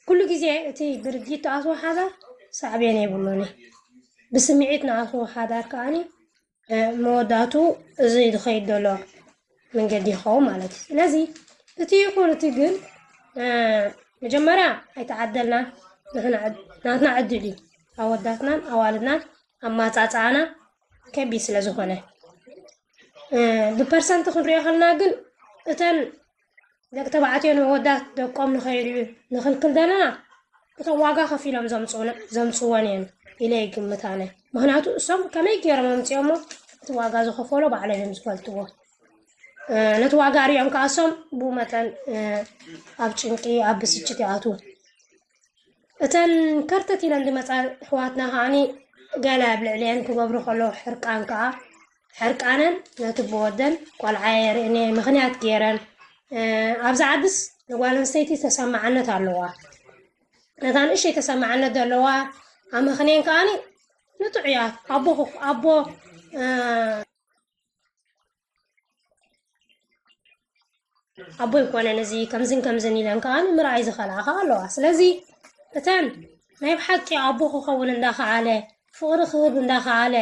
ኩሉ ግዜ እቲ ብርድኢት ዝኣትዎ ሓዳር ሳዕቤን የብሉን እዩ ብስምዒት ንኣትዎ ሓዳር ከዓኒ መወዳእቱ እዚ ዝኸይድ ዘሎ መንገዲ ይኸውን ማለት እዩ ስለዚ እቲ ይኹን እቲ ግን መጀመርያ ኣይተዓደልና ናትና ዕድል እዩ ኣወዳትናን ኣዋልድናን ኣማፃፅኣና ከቢድ ስለ ዝኾነ ብፐርሰንቲ ክንሪኦ ከለና ግን እተን ደቂ ተባዕትዮ ንኣወዳት ደቆም ንኸይድልዩ ንኽልክል ዘለና እቶም ዋጋ ከፊሎም ዘምፅዎን እየን ኢለ ይግምት ኣነ ምክንያቱ እሶም ከመይ ገይሮም ኣምፅኦሞ እቲ ዋጋ ዝኸፈሎ ባዕሎም እዮም ዝፈልጥዎ ነቲ ዋጋ ሪኦም ከዓ እሶም ብኡ መጠን ኣብ ጭንቂ ኣብ ብስጭት ይኣትዉ እተን ከርተት ኢለን ዝመፃ ኣሕዋትና ከዓኒ ገለ ኣብ ልዕሊአን ክገብሩ ከለዉ ሕርቃን ከዓ ሕርቃነን ነቲ ብወደን ቆልዓ የርእኔ ምክንያት ገይረን ኣብዚ ዓድስ ንጓል ኣንስተይቲ ተሰማዕነት ኣለዋ ነታ ንእሸይ ተሰማዕነት ዘለዋ ኣመክንየን ከዓኒ ንጡዕ እያ ኣቦ ኣቦ ኣቦ ይኮነን እዚ ከምዝን ከምዝን ኢለን ከዓ ንምርኣይ ዝኸልኣ ከዓ ኣለዋ ስለዚ እተን ናይ ብሓቂ ኣቦ ክኸውን እንዳኸኣለ ፍቕሪ ክህብ እንዳኸኣለ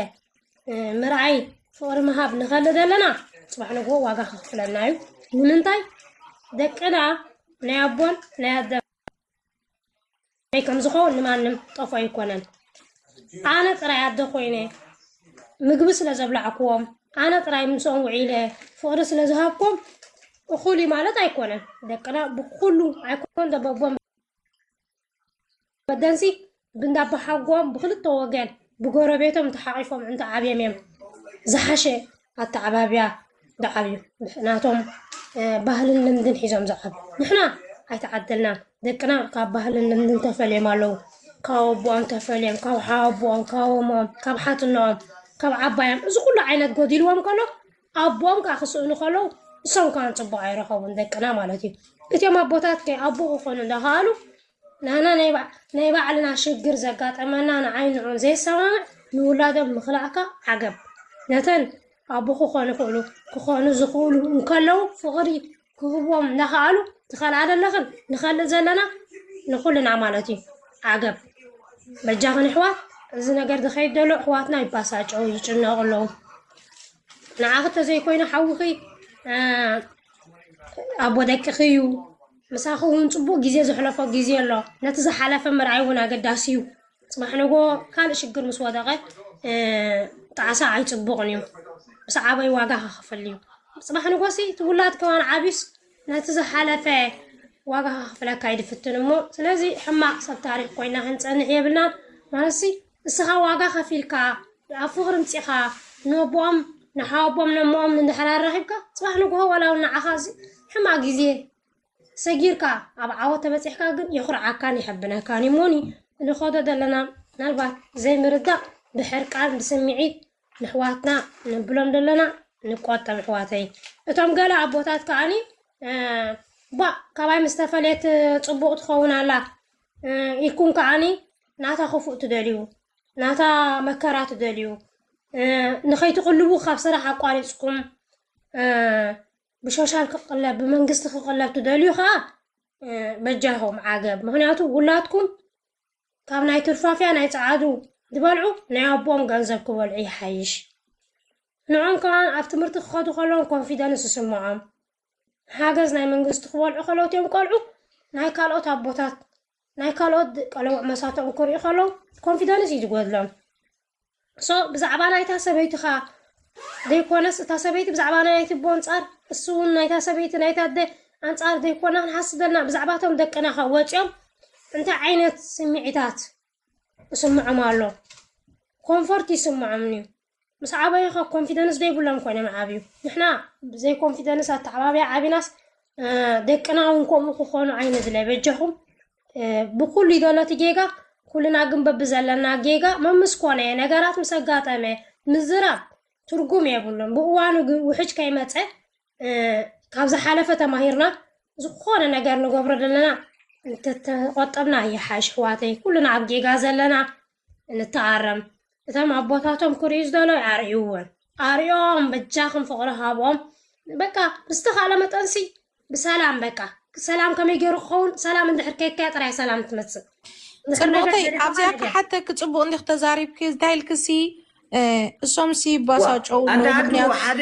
ምርኣይ ፍቕሪ ምሃብ ንኸሊ ዘለና ፅባሕ ንግሆ ዋጋ ክኽፍለና እዩ ንምንታይ ደቅና ናይ ኣቦን ናይ ኣደ ናይ ከም ዝኸውን ንማንም ጠፎ ኣይኮነን ኣነ ጥራይ ኣደ ኮይነ ምግቢ ስለ ዘብላዕክዎም ኣነ ጥራይ ምስኦም ውዒለ ፍቕሪ ስለ ዝሃብኩም እኹል እዩ ማለት ኣይኮነን ደቅና ብኩሉ ኣይኮን ደበቦም መደንሲ ብንዳባሓጎም ብክልተ ወገን ብጎረቤቶም ተሓቂፎም እንተ ዓብዮም እዮም ዝሓሸ ኣተዓባብያ ዝዓብዩ ናቶም ባህልን ልምድን ሒዞም ዝዓብዩ ንሕና ኣይተዓደልናን ደቅና ካብ ባህልን ልምድን ተፈልዮም ኣለዉ ካብ ኣቦኦም ተፈልዮም ካብ ሓወቦኦም ካብ እሞኦም ካብ ሓትኖኦም ካብ ዓባዮም እዚ ኩሉ ዓይነት ጎዲልዎም ከሎ ኣቦኦም ከዓ ክስእኑ ከለዉ ንሶም ከዓ ፅቡቅ ኣይረኸቡን ደቅና ማለት እዩ እቲኦም ኣቦታት ከ ኣቦ ክኾኑ እንዳኸኣሉ ናህና ናይ ባዕልና ሽግር ዘጋጠመና ንዓይ ንዑን ዘይሰማምዕ ንውላዶም ምኽላእካ ዓገብ ነተን ኣቦ ክኾኑ ይኽእሉ ክኾኑ ዝኽእሉ እንከለዉ ፍቕሪ ክህቦም እናኸኣሉ ትኸልኣ ዘለኽን ንኸልእ ዘለና ንኹልና ማለት እዩ ዓገብ በጃኽን ኣሕዋት እዚ ነገር ዝኸይድ ዘሎ ኣሕዋትና ይባሳጨው ይጭነቑ ኣለዉ ንዓኽ ተዘይኮይኑ ሓውኺ ኣቦ ደቅኺ እዩ ምሳኺ እውን ጽቡቕ ግዜ ዘሕለፎ ግዜ ኣሎ። ነቲ ዝሓለፈ ምርኣይ እውን ኣገዳሲ እዩ። ጽባሕ ንግሆ ካልእ ሽግር ምስ ወደቐ ጣዕሳ ኣይጽቡቕን እዩ። ምስ ዓበይ ዋጋ ከኸፍል እዩ። ጽባሕ ንግሆሲ እቲ ውላድ ከዋን ዓብዩስ ነቲ ዝሓለፈ ዋጋ ከኸፍለካ ይድፍትን እሞ ስለዚ ሕማቕ ሰብ ታሪኽ ኮይና ክንጸንሕ የብልናን ማለትሲ እስኻ ዋጋ ከፊልካ ኣብ ፍቅሪ ምጺኻ ነቦኦም ንሓወቦኦም ነሞኦም እንድሕር ኣራኺብካ ጽባሕ ንግሆ ዋላ ውን ንዓኻ ሕማቅ ግዜ ሰጊርካ ኣብ ዓወት ተበጺሕካ ግን የኹርዓካን የሐብነካን እዩ ሞኒ ንኸዶ ዘለና ምናልባት ዘይምርዳእ ብሕርቃን ብስምዒት ንሕዋትና ንብሎም ዘለና ንቆጠብ ኣሕዋተይ እቶም ገለ ኣቦታት ከዓኒ ባ ካባይ ምስ ተፈለየት ፅቡቕ ትኸውን ኣላ ኢልኩም ከዓኒ ናታ ክፉእ ትደልዩ ናታ መከራ ትደልዩ ንኸይትቕልቡ ካብ ስራሕ ኣቋሪፅኩም ብሾሻል ክቕለብ ብመንግስቲ ክቕለብ ትደልዩ ከዓ በጃኹም ዓገብ ምክንያቱ ውላድኩም ካብ ናይ ትርፋፊያ ናይ ፀዓዱ ዝበልዑ ናይ ኣቦም ገንዘብ ክበልዑ ይሓይሽ ንዖም ከዓ ኣብ ትምህርቲ ክኸዱ ከለዎም ኮንፊደንስ ዝስምዖም ሓገዝ ናይ መንግስቲ ክበልዑ ከለዉ እትዮም ቆልዑ ናይ ካልኦት ኣቦታት ናይ ካልኦት ቀለውዕ መሳቶም ክርእዩ ከለዉ ኮንፊደንስ እዩ ዝጎድሎም ሶ ብዛዕባ ናይታ ሰበይቲ ኸዓ ዘይኮነስ እታ ሰበይቲ ብዛዕባ ናይቲ ቦ ኣንፃር እሱ እውን ናይታ ሰበይቲ ናይታ ኣደ ኣንፃር ዘይኮና ክንሓስብ ዘለና ብዛዕባቶም ደቅና ኸ ወፂኦም እንታይ ዓይነት ስምዒታት ይስምዖም ኣሎ ኮንፈርት ይስምዖም እዩ ምስ ዓበዩ ከ ኮንፊደንስ ዶ ይብሎም ኮይኖም ይዓብዩ ንሕና ብዘይ ኮንፊደንስ ኣተዓባብያ ዓቢናስ ደቅና እውን ከምኡ ክኾኑ ኣይንድለ በጃኹም ብኩሉ ይደሎቲ ጌጋ ኩልና ግን በብዘለና ጌጋ መምስ ኮነ ነገራት ምስ ኣጋጠመ ምዝራብ ትርጉም የብሉን ብእዋኑ ግን ውሕጅ ከይመፀ ካብ ዝሓለፈ ተማሂርና ዝኾነ ነገር ንገብሮ ዘለና እንተተቆጠብና ይሓሽ ኣሕዋተይ ኩልና ኣብ ጌጋ ዘለና ንተኣረም እቶም ኣቦታቶም ክሪኡ ዝደለዩ ኣርእይዎን ኣርእዮም በጃኹም ፍቕሪ ሃቦም በቃ ብዝተኻእለ መጠንሲ ብሰላም በቃ ሰላም ከመይ ገይሩ ክኸውን ሰላም እንድሕር ከይካያ ጥራይ ሰላም ትመፅእ ፅቡቕተይ ኣብዚኣ ክሓተኪ ፅቡቕ እንዲኽ ተዛሪብኪ እንታይ ኢልክሲ እሶምሲ ይባሳጨው ኣንዳ ኣድሩ ሓደ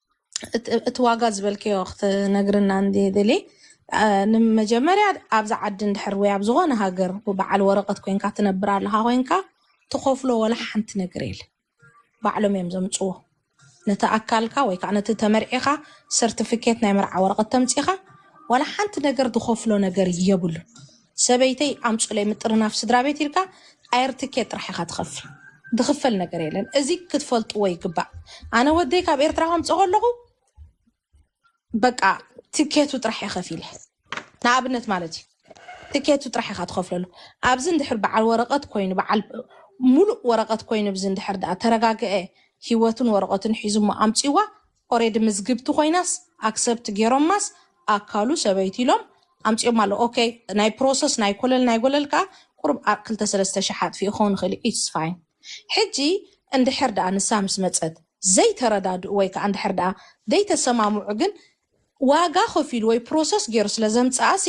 እቲ ዋጋ ዝበልከዮ ክትነግርና እንድሊ ንመጀመርያ ኣብዚ ዓዲ እንድሕር ወይ ኣብ ዝኾነ ሃገር በዓል ወረቐት ኮንካ ትነብር ኣለኻ ኮንካ ትኸፍሎ ወላ ሓንቲ ነገር የለ ባዕሎም እዮም ዘምፅዎ ነቲ ኣካልካ ወይ ከዓ ነቲ ተመርዒኻ ሰርቲፊኬት ናይ መርዓ ወረቐት ተምፂኻ ወላ ሓንቲ ነገር ዝኸፍሎ ነገር የብሉ ሰበይተይ ኣምፁለይ ምጥርናፍ ስድራቤት ኢልካ ኣየር ትኬት ጥራሕ ኢካ ትከፍል ዝክፈል ነገር የለን እዚ ክትፈልጥዎ ይግባእ ኣነ ወደይ ካብ ኤርትራ ከምፆ ከለኩ በቃ ትኬቱ ጥራሕ እየ ከፊለ ንኣብነት ማለት እዩ ትኬቱ ጥራሕ ኢካ ትከፍለሉ ኣብዚ እንድሕር በዓል ወረቀት ኮይኑ በዓል ሙሉእ ወረቀት ኮይኑ እዚ እንድሕር ዳኣ ተረጋግዐ ሂወቱን ወረቀቱን ሒዙ እሞ ኣምፅዋ ኦሬዲ ምዝግብቲ ኮይናስ ኣክሰብት ጌሮማስ ኣካሉ ሰበይቲ ኢሎም ኣምጺኦማ ኣለዉ ኦከይ ናይ ፕሮሰስ ናይ ኮለል ናይ ጎለል ከኣ ቁሩብ ኣብ ክልተ ሰለስተ ሽሕ ኣጥፊኡ ክከውን ይክእል እዩ ኢትስ ፋይን ሕጂ እንድሕር ደኣ ንሳ ምስ መጸት ዘይተረዳድኡ ወይ ከኣ እንድሕር ደኣ ዘይተሰማምዑ ግን ዋጋ ከፊሉ ወይ ፕሮሰስ ጌሩ ስለ ዘምጽኣሲ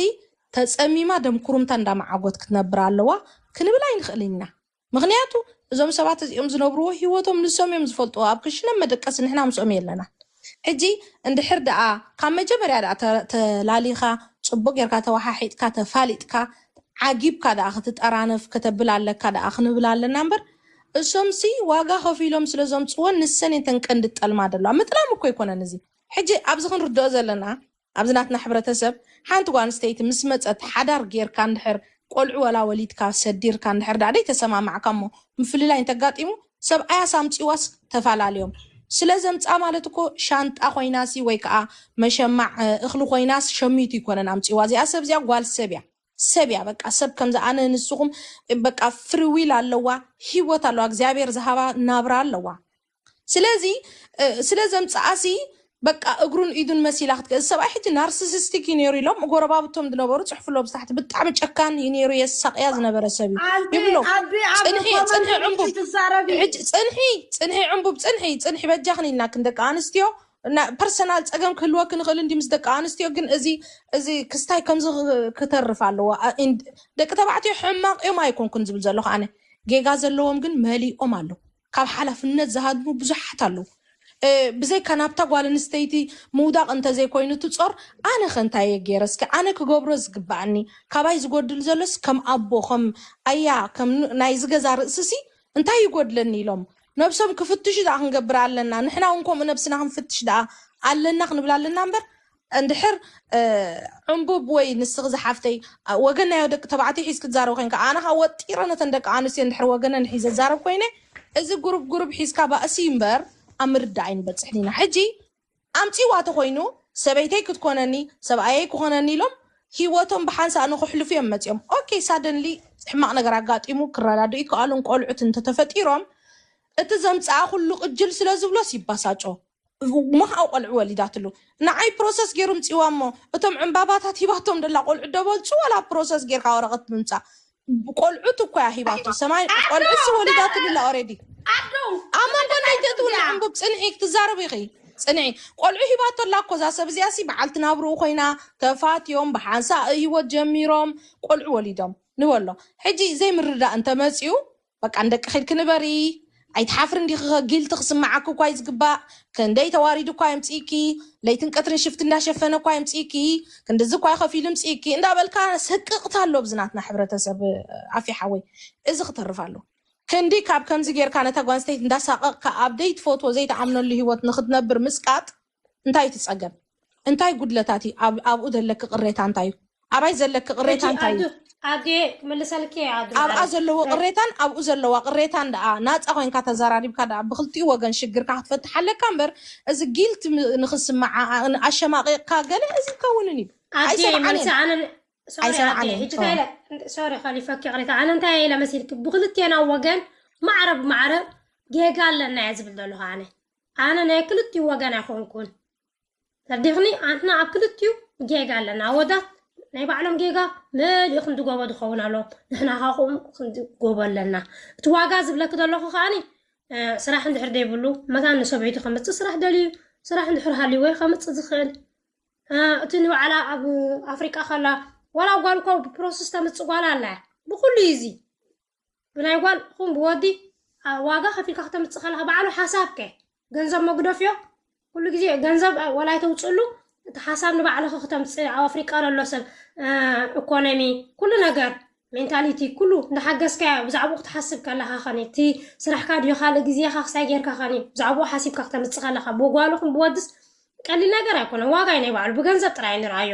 ተጸሚማ ደም ኩሩምታ እንዳ መዓጎት ክትነብር ኣለዋ ክንብል ኣይንክእልን ኢና ምክንያቱ እዞም ሰባት እዚኦም ዝነብርዎ ሂወቶም ንሶም እዮም ዝፈልጥዎ ኣብ ክሽነ መደቀሲ ንሕና ምስኦም የለናን ሕጂ እንድሕር ደኣ ካብ መጀመርያ ደኣ ተላሊካ ጽቡቅ ጌርካ ተዋሓሒጥካ ተፋሊጥካ ዓጊብካ ደኣ ክትጠራነፍ ከተብል ኣለካ ደኣ ክንብል ኣለና እምበር እሶምሲ ዋጋ ከፊሎም ስለ ዘምጽዎን ንሰን እየን ተን ቀንዲ ጠልማ ደለዋ ምጥላም እኮ ኣይኮነን እዚ ሕጂ ኣብዚ ክንርድኦ ዘለና ኣብዚ ናትና ሕብረተሰብ ሓንቲ ጓል ኣንስተይቲ ምስ መጸት ሓዳር ጌርካ እንድሕር ቆልዑ ወላ ወሊድካ ሰዲርካ እንድሕር ደኣ ደይተሰማማዕካ እሞ ምፍልላይ እንተጋጢሙ ሰብኣያስ ኣምጺዋስ ተፋላልዮም ስለ ዘምጽኣ ማለት እኮ ሻንጣ ኮይናሲ ወይ ከኣ መሸማዕ እኽሊ ኮይናስ ሸሚቱ እይኮነን ኣምጺዋ እዚኣ ሰብ እዚኣ ጓል ሰብ እያ ሰብ እያ በቃ ሰብ ከምዚ ኣነ ንስኹም በቃ ፍሪ ዊል ኣለዋ ሂወት ኣለዋ እግዚኣብሔር ዝሃባ ናብራ ኣለዋ ስለዚ እ፣ ስለ ዘምጽኣሲ በቃ እግሩን ኢዱን መሲላ ክትገ እዚ ሰብኣይ ሕጂ ናርሲሲስቲክ እዩ ነይሩ ኢሎም ጎረባብቶም ዝነበሩ ጽሕፍሎ ብታሕቲ ብጣዕሚ ጨካን እዩ ነይሩ የሳቅያ ዝነበረ ሰብ እዩ ኣንቲ ይብሎ ኣቢ ኣብ ጽንሒ ኮመንት ጽንሒ ሪኢኺ ዕንቡብ ትዛረቢ ሕጂ ጽንሒ ጽንሒ ዕንቡብ ጽንሒ ጽንሒ በጃኽን ኢልናክን ደቂ ኣንስትዮ እና ፐርሰናል ጸገም ክህልወክ ንኽእል እንዲ ምስ ደቂ ኣንስትዮ ግን እዚ እዚ ክስታይ ከምዚ ክ- ክተርፍ ኣለዎ ኣ- ኢን- ደቂ ተባዕትዮ ሕማቅ እዮም ኣይኮንኩን ዝብል ዘለኹ ኣነ ጌጋ ዘለዎም ግን መሊኦም ኣለዉ ካብ ሓላፍነት ዝሃድሙ ብዙሓት ኣለዉ ብዘይካ ናብታ ጓል ኣንስተይቲ ምውዳቕ እንተዘይኮይኑ እቲ ጾር ኣነኸ እንታይ እየ ጌረ እስከ ኣነ ክገብሮ ዝግብኣኒ ካባይ ዝጎድል ዘሎስ ከም ኣቦ ከም ኣያ ከም ናይዚ ገዛ ርእስሲ እንታይ ይጎድለኒ ኢሎም ነብሶም ክፍትሹ ደኣ ክንገብር ኣለና ንሕና ውን ከምኡ ነብስና ክንፍትሽ ደኣ ኣለና ክንብል ኣለና እምበር እንድሕር ዕንቡብ ወይ ንስኺ ዝሓፍተይ ወገናዮ ደቂ ተባዕትዮ ሒዝኪ ትዛረቢ ኮይንካ ኣነ ከኣ ወጢረ ነተን ደቂ ኣንስትዮ እንድሕር ወገነን ሒዘ ዝዛረብ ኮይነ እዚ ጉሩብ ጉሩብ ሒዝካ ባእሲ እዩ እምበር ኣብ ምርዳእ ኣይንበጽሕን ኢና ሕጂ ኣምጺዋ ተኾይኑ ሰበይተይ ክትኮነኒ ሰብኣየይ ክኾነኒ ኢሎም ሂወቶም ብሓንሳእ ንኽሕልፉ እዮም መጺኦም ኦኬ ሳደንሊ ሕማቕ ነገር ኣጋጢሙ ክረዳድኡ ይከኣሉን ቆልዑት እንተተፈጢሮም እቲ ዘምጽኣ ኩሉ ቅጅል ስለዝብሎስ ይባሳጮ ምሃኡ ቆልዑ ወሊዳትሉ ንዓይ ፕሮሰስ ጌሩ ምጺዋ እሞ እቶም ዕንባባታት ሂባቶም ደላ ቆልዑ ደበልጹ ወላ ፕሮሰስ ጌርካ ወረቀት ብምጻእ ቆልዑት እኮያ ሂባቶ ሰማይ ቆልዑሲ ወሊዳትሉ ላ ኦሬዲ ኣብ መንጎ ንደይ ተእትው ንዕንቡብ ጽንዒ ክትዛረብ ኢኺ ጽንዒ ቆልዑ ሂባቶ ኣላ እኮ እዛ ሰብ እዚኣ ሲ በዓልቲ ናብርኡ ኮይና ተፋትዮም ብሓንሳእ ህይወት ጀሚሮም ቆልዑ ወሊዶም ንበሎ ሕጂ ዘይምርዳእ እንተመጺኡ በቃ ንደቅኺ ኢልኪ ንበሪ ኣይትሓፍርን ዲኺ ከ ጊልቲ ክስመዓኪ እኳ እዩ ዝግባእ ክንደይ ተዋሪዱ እኳ የምጺእኪ ለይትን ቀትርን ሽፍቲ እንዳሸፈነ እኳ የምጺእኪ ክንድዚ እኳ ከፊሉ የምጺእኪ እንዳበልካ ስቅቕታ ኣሎ ኣብዚ ናትና ሕብረተሰብ ኣፊ ሓወይ እዚ ክተርፍ ኣሎ ክንዲ ካብ ከምዚ ጌርካ ነታ ጓንስተይቲ እንዳሳቐቕካ ኣብ ዘይትፈትዎ ዘይትኣምነሉ ሂወት ንክትነብር ምስቃጥ እንታይ እዩ እቲ ፀገም? እንታይ ጉድለታት እዩ? ኣብ- ኣብኡ ዘለኪ ቅሬታ እንታይ እዩ? ኣባይ ዘለኪ ሕጂ ቅሬታ እንታይ እዩ? ኣዱ ኣዱየ ክምልሰልኪ እየ ኣዱ ኣብኣ ማዓረይ ዘለዎ ናይ ቅሬታን ኣብኡ ዘለዋ ቅሬታን ደኣ ናፃ ኮይንካ ተዘራሪብካ ደኣ ብክልቲኡ ወገን ሽግርካ ክትፈትሕ ኣለካ እምበር እዚ ጊልት ንክስመዓ ኣሸማቂቅካ ገለ እዚ ይከውንን እዩ ኣዱየ ኣይሰምዓን መልሲ እየን ኣነ ሶሪ ኣዱየ ኣይሰምዓን እየን ሕጂ እንታይ ኦ ኢለ ሶሪ ከሊፈኪ ይቅሬታ ኣነ እንታይ እየ ኢለ መሲልኪ ብክልቴና ወገን ማዕረ ብማዕረ ጌጋ ኣለና እየ ዝብል ዘለኹ ኣነ ኣነ ናይ ክልቲኡ ወገን ኣይኮንኩን ተርዲክኒ ኣንሕና ኣብ ክልቲኡ ጌጋ ኣለና ኣወዳት ናይ ባዕሎም ጌጋ መሊኡ ክንዲ ጎቦ ዝኸውን ኣሎ ንሕና ካ ከምኡ ክንዲ ጎቦ ኣለና እቲ ዋጋ ዝብለኪ ዘለኹ ከዓኒ ስራሕ እንድሕር ዘይብሉ መታን ንሰበይቱ ከምፅእ ስራሕ ደልዩ ስራሕ እንድሕር ሃልይዎ ከምፅእ ዝኽእል እቲ ንባዕላ ኣብ ኣፍሪቃ ከላ ዋላ ጓል እኳ ብፕሮሰስ ተምፅእ ጓል ኣላ እያ ብኩሉ እዩ እዚ ብናይ ጓል ኹን ብወዲ ዋጋ ከፊልካ ክተምጽእ ከለኻ ባዕሉ ሓሳብ ከ ገንዘብ መጉደፍዮ ኩሉ ግዜ ገንዘብ ወላ ኣይተውጽሉ እቲ ሓሳብ ንባዕልኺ ክተምጽእ ኣብ ኣፍሪቃ ዘሎ ሰብ ኢኮኖሚ ኩሉ ነገር ሜንታሊቲ ኩሉ እንዳሓገዝካያ ብዛዕባኡ ክትሓስብ ከለኻ ኸኒ እቲ ስራሕካ ድዮ ካልእ ግዜኻ ክሳይ ጌርካ ኸኒ ብዛዕባኡ ሓሲብካ ክተምጽእ ከለኻ ብጓልኹም ብወድስ ቀሊል ነገር ኣይኮነ ዋጋ እዩ ናይ ባዕሉ ብገንዘብ ጥራይ ንርኣዮ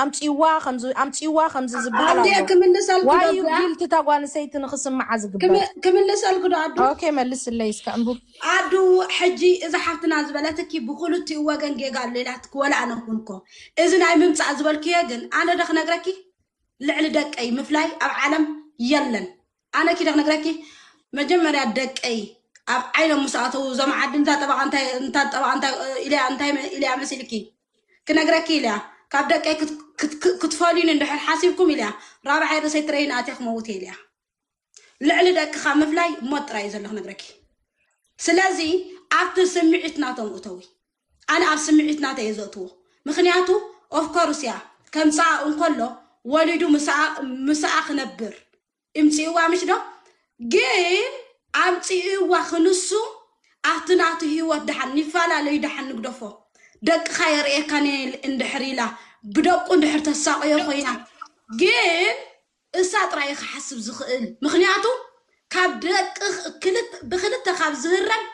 ኣምጽዋ ከምዚ ኣምጽዋ ከምዚ ዝበሃል ኣዴ ኣሎ ክምልሰልኪ ዶ ዋዩ እዚኣ ጊልቲ እታ ጓል ኣንስተይቲ ንኽስምዓ ዝግበር ክም- ክምልሰልኪ ዶ ኣዱ ኦኬ መልስለይ እስከ ዕምቡብ ኣዱ ሕጂ እዛ ሓፍትና ዝበለትኪ ብክልቲኡ ወገን ጌጋ ኣሎ ኢላትኪ ወላ ኣነ እኹን እኮ እዚ ናይ ምምጻእ ዝበልክዮ ግን ኣነ ዶ ክነግረኪ ልዕሊ ደቀይ ምፍላይ ኣብ ዓለም የለን ኣነ ኪደ ክነግረኪ መጀመርያ ደቀይ ኣብ ዓይኖም ምስ ኣተዉ እዞም ዓዲ እንታ ጠበቓ እንታይ እንታ ጠበቓ እንታይ እ፣ ኢልያ እንታይ መ- ኢልያ መሲልኪ ክነግረኪ ኢልያ ካብ ደቀይ ክት- ክት- ክት- ክትፈልዩኒ እንድሕር ሓሲብኩም ኢልያ ራብዓይ ርእሰይ ትረይን ኣትየ ክመውት እየ ኢልያ ልዕሊ ደቅኻ ምፍላይ ሞት ጥራይ እዩ ዘሎ ክነግረኪ ስለዚ ኣብቲ ስምዒት ናቶም እተዊ ኣነ ኣብ ስምዒት ናተ እየ ዘእትዎ ምክንያቱ ኦፍኮርስ እያ ከምፀኣ እንከሎ ወሊዱ ምስኣ ምስኣ ክነብር እምፅእዋ ምሽ ዶ ግን ኣምፅእዋ ክንሱ ኣብቲ ናቱ ህይወት ድሓን ይፈላለዩ ድሓን ንግደፎ ደቅኻ የርእየካ እንድሕር ኢላ ብደቁ እንድሕር ተሳቆዮ ኮይና ግን እሳ ጥራይ ክሓስብ ዝኽእል ምክንያቱ ካብ ደቂ ብክልተ ካብ ዝህረም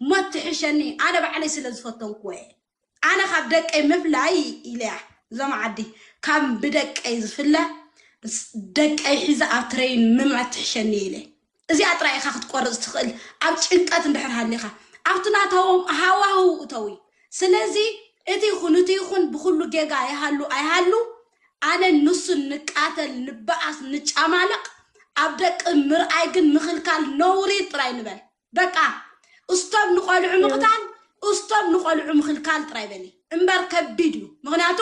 ሞት ትሕሸኒ ኣነ ባዕለይ ስለ ዝፈተንኩዎ እየ ኣነ ካብ ደቀይ ምፍላይ ኢለያ ዞም ዓዲ ካብ ብደቀይ ዝፍለ ደቀይ ሒዘ ኣብ ትረይን ምምት ትሕሸኒ እየ ኢለ እዚኣ ጥራይ ኢኻ ክትቆርፅ ትኽእል ኣብ ጭንቀት እንድሕር ሃሊኻ ኣብቲ ናታዎም ሃዋህው እተዊ ስለዚ እቲ ይኹን እቲ ይኹን ብኩሉ ጌጋ ይሃሉ ኣይሃሉ ኣነ ንሱ ንቃተል ንበኣስ ንጫማለቕ ኣብ ደቂ ምርኣይ ግን ምኽልካል ነውሪ ጥራይ ንበል በቃ እስቶብ ንቆልዑ ምቕታል እስቶብ ንቆልዑ ምኽልካል ጥራይ በሊ እምበር ከቢድ እዩ ምክንያቱ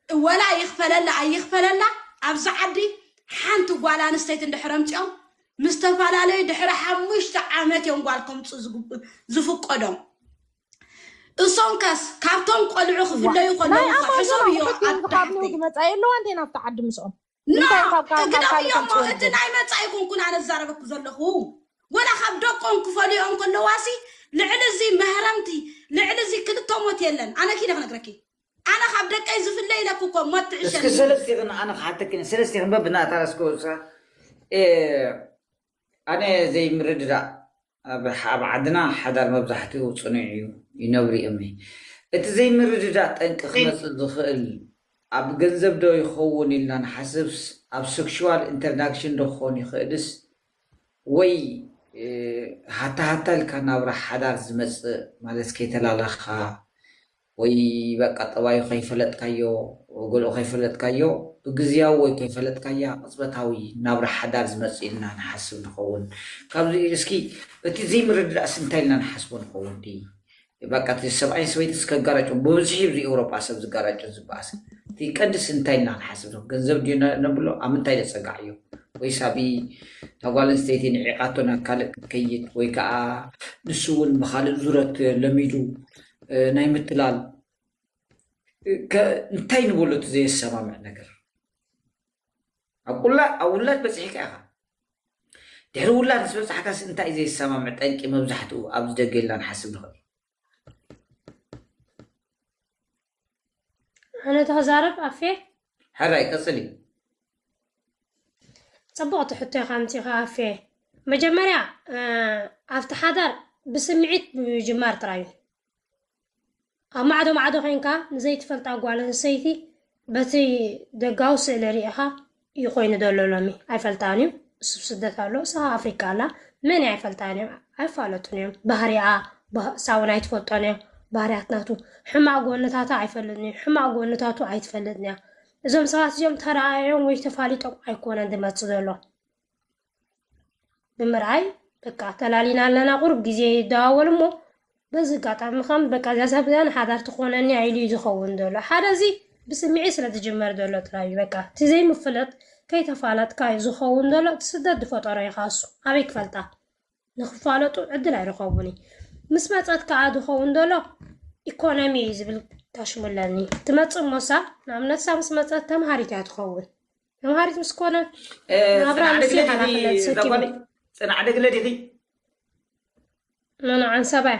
ወላ ይኽፈለላ ኣይኽፈለላ ኣብዚ ዓዲ ሓንቲ ጓል ኣንስተይቲ እንድሕር ኣምፂኦም ምስ ዝተፈላለዩ ድሕሪ ሓሙሽተ ዓመት እዮም ጓል ከምፁ ዝፍቀዶም እሶም ከስ ካብቶም ቆልዑ ክፍለዩ ከለዉ ሕሶም እዮ ዝመፃ የለዋ እንተ ናብቲ ዓዲ ምስኦም እንታይ ካብ ካብ ካብ ካልእ እግዳውዮ ተምጽኡ እቲ ንብል ናይ መጻኢ ይኹንኩን ኣነ ዝዛረበኩ ዘለኹ ወላ ካብ ደቆም ክፈልዮኦም ከለዋሲ ልዕሊ እዚ መህረምቲ ልዕሊ እዚ ክልተ ሞት የለን ኣነ ኪነ ክነግረኪ ኣነ ካብ ደቀይ ዝፍለ ኢለኩ እኮ ሞት እስኪ ትዕሸኒ ሰለስቲኽን ኣነ ክሓተክን እየ ሰለስቲኽን በብናታ እስከ ውሳ ኣነ ዘይምርድዳእ ኣብ ዓድና ሓዳር መብዛሕትኡ ጽኑዕ እዩ ይነብሩ እም እቲ ዘይምርድዳእ ጠንቂ ክመጽእ ዝኽእል ኣብ ገንዘብ ዶ ይኸውን ኢልና ንሓስብስ ኣብ ሰክሽዋል ኢንተርዳክሽን ዶ ክኾን ይኽእልስ ወይ ሃታ ሃታ ኢልካ ናብራ ሓዳር ዝመጽእ ማለት ከይተላላኽኻ ወይ በቃ ጠባዩ ከይፈለጥካዮ ገለኡ ከይፈለጥካዮ ብግዝያዊ ወይ ከይፈለጥካያ ቅጽበታዊ ናብራ ሓዳር ዝመጽእ ኢልና ንሓስብ ንኸውን ካብዚ እስኪ እቲ ዘይምርድዳእስ እንታይ ኢልና ንሓስቦ ንኸውን እቲ በቃ እቲ ሰብኣይን ሰበይትስ ከጋራጭ ብብዝሒ ኣብዚ ኤውሮጳ ሰብ ዝጋራጭን ዝበኣስን እቲ ቀንዲስ እንታይ ኢልና ንሓስብ ንኹ ገንዘብ ድዩ ነብሎ ኣብ ምንታይ ዘጸጋዕ እዩ ወይስ ኣብ ተጓል ኣንስተይቲ ንዒቓቶ ናብ ካልእ ክትከይድ ወይ ከዓ ንሱ እውን ብካልእ ዙረት ለሚዱ ናይ ምትላል እንታይ ንበሎ እቲ ዘየሰማምዕ ነገር ኣብ ውላድ በፂሕካ ኢኻ ድሕሪ ውላድ ምስ በፃሕካስ እንታይ ዘየሰማምዕ ጠንቂ መብዛሕትኡ ኣብዚ ደገ ኢልና ንሓስብ ንኽእል ኣነ ተክዛረብ ኣፌ ሕራይ ቀጽሊ። ጽቡቕቲ ሕቶ ኢኻ ኣምጺኻ ኣፌ መጀመርያ ኣብቲ ሓዳር ብስምዒት ምጅማር ጥራይ እዩ ኣብ ማዕዶ ማዕዶ ኮንካ ንዘይትፈልጣ ጓል ኣንስተይቲ በቲ ደጋዊ ስእሊ ርኢኻ እዩ ኮይኑ ዘሎ ሎሚ ኣይፈልጣን እዩ እሱ ስደት ኣሎ እሳ ኣፍሪቃ ኣላ መን ኣይፈልጣን እዮም ኣይፋለጡን እዮም ባህሪኣ ሳውል ኣይትፈልጦንያ ባህርያት ናቱ ሕማቅ ጎንታታ ኣይፈልጥንዩ ሕማቅ ጎንታቱ ኣይትፈልጥንያ እዞም ሰባት እዚኦም ተረኣዮም ወይ ተፋሊጦም ኣይኮነን ዝመጽእ ዘሎ ብምርኣይ በቃ ተላሊና ኣለና ቁሩብ ግዜ ይደዋወል እሞ በዚ ኣጋጣሚ ከም በቃ እዛ ሰብ እዚኣ ንሓዳር ትኾነኒ ኢሉ እዩ ዝኸውን ዘሎ ሓደ እዚ ብስምዒ ስለ ዝጅመር ዘሎ ጥራይ እዩ በቃ እቲ ዘይምፍለጥ ከይተፋለጥካ እዩ ዝኸውን ዘሎ እቲ ስደት ዝፈጠሮ ይኻሱ ኣበይ ክፈልጣ ንክፋለጡ ዕድል ኣይረኸቡን ምስ መፀት ከዓ ዝኸውን ዘሎ ኢኮኖሚ እዩ ዝብል ታሽሙለኒ ትመፅእ ሞሳ ንኣብነት ሳ ምስ መፀት ተምሃሪት እያ ትኸውን ተምሃሪት ምስ ኮነ ናብራ ንሱ ሓላፍነት ሰኪሙ ፅናዕ ደግለ ዲኺ መናዓን ሰባይ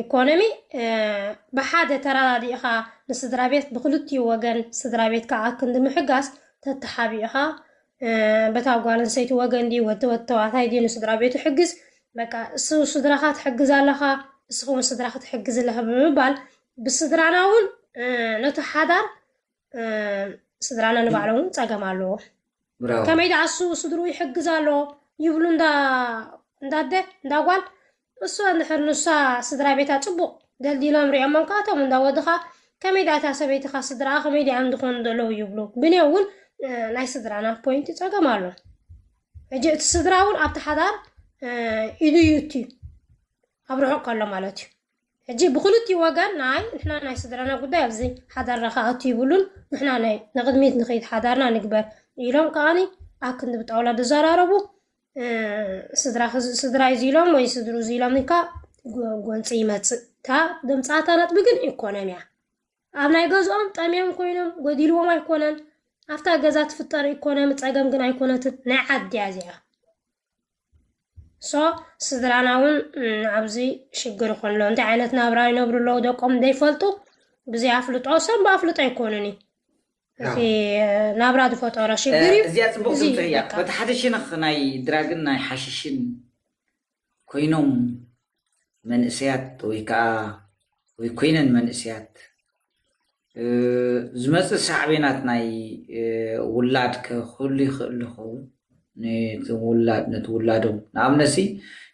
ኢኮኖሚ ብሓደ ተረዳዲእኻ ንስድራ ቤት ብክልቲኡ ወገን ስድራ ቤትካ ኣብ ክንዲ ምሕጋዝ ተተሓቢእኻ በታ ጓል ኣንስተይቲ ወገን ድዩ ወዲ ወዲ ተባዕታይ ድዩ ንስድራ ቤቱ ሕግዝ በቃ እሱ ስድራኻ ትሕግዝ ኣለኻ ንስኻ እውን ስድራኻ ትሕግዝ ኣለኻ ብምባል ብስድራና እውን ነቲ ሓዳር ስድራና ንባዕሎም እውን ፀገም ኣለዎ ከመይ ደኣ እሱ ስድሩ ይሕግዝ ኣሎ ይብሉ እንዳ እንዳደ እንዳጓል እሱ እንድሕር ንሳ ስድራ ቤታ ፅቡቅ ደልዲሎም ሪኦሞም ከዓ እቶም እንዳወድኻ ከመይ ደኣ እታ ሰበይትኻ ስድራኣ ከመይ ደኣ እንድኾኑ ዘለዉ ይብሉ ብኔ እውን ናይ ስድራና ፖይንት ፀገም ኣሎ ሕጂ እቲ ስድራ እውን ኣብቲ ሓዳር ኢዱ እዩ እትዩ ኣብ ርሑቅ ከሎ ማለት እዩ ሕጂ ብክልቲኡ ወገን ናይ ንሕና ናይ ስድራና ጉዳይ ኣብዚ ሓዳርና ክኣቱ ይብሉን ንሕና ናይ ንቅድሚት ንክይድ ሓዳርና ንግበር ኢሎም ከዓኒ ኣብ ክንዲ ብጣውላ ዝዘራረቡ ስድራ ስድራ እዩ ኢሎም ወይ ስድሩ ኢሎም ኢልካ ጎንፂ ይመፅእ እታ ድምፃታ ነጥቢ ግን ኢኮኖሚ እያ ኣብ ናይ ገዝኦም ጠምዮም ኮይኖም ጎዲልዎም ኣይኮነን ኣብታ ገዛ ትፍጠር ኢኮኖሚ ፀገም ግን ኣይኮነትን ናይ ዓድያ እዚኣ ሶ ስድራና እውን ኣብዚ ሽግር ይኾን ኣሎ እንታይ ዓይነት ናብራ ይነብሩ ኣለዉ ደቆም ዘይፈልጡ ብዘይ ኣፍልጦ ሰብ ብኣፍልጦ ኣይኮኑን እዩ እቲ ናብራ ዝፈጠሮ ሽግር እዩ እዚኣ ፅቡቅ እዚ ትምህርቲ እያ በቃ በቲ ሓደ ሽነኽ ናይ ድራግን ናይ ሓሽሽን ኮይኖም መንእሰያት ወይ ከዓ ወይ ኮይነን መንእሰያት ዝመፅእ ሳዕቤናት ናይ ውላድ ክህሉ ይኽእል ይኸውን ነቲ ውላድ ነቲ ውላዶም ንኣብነት ሲ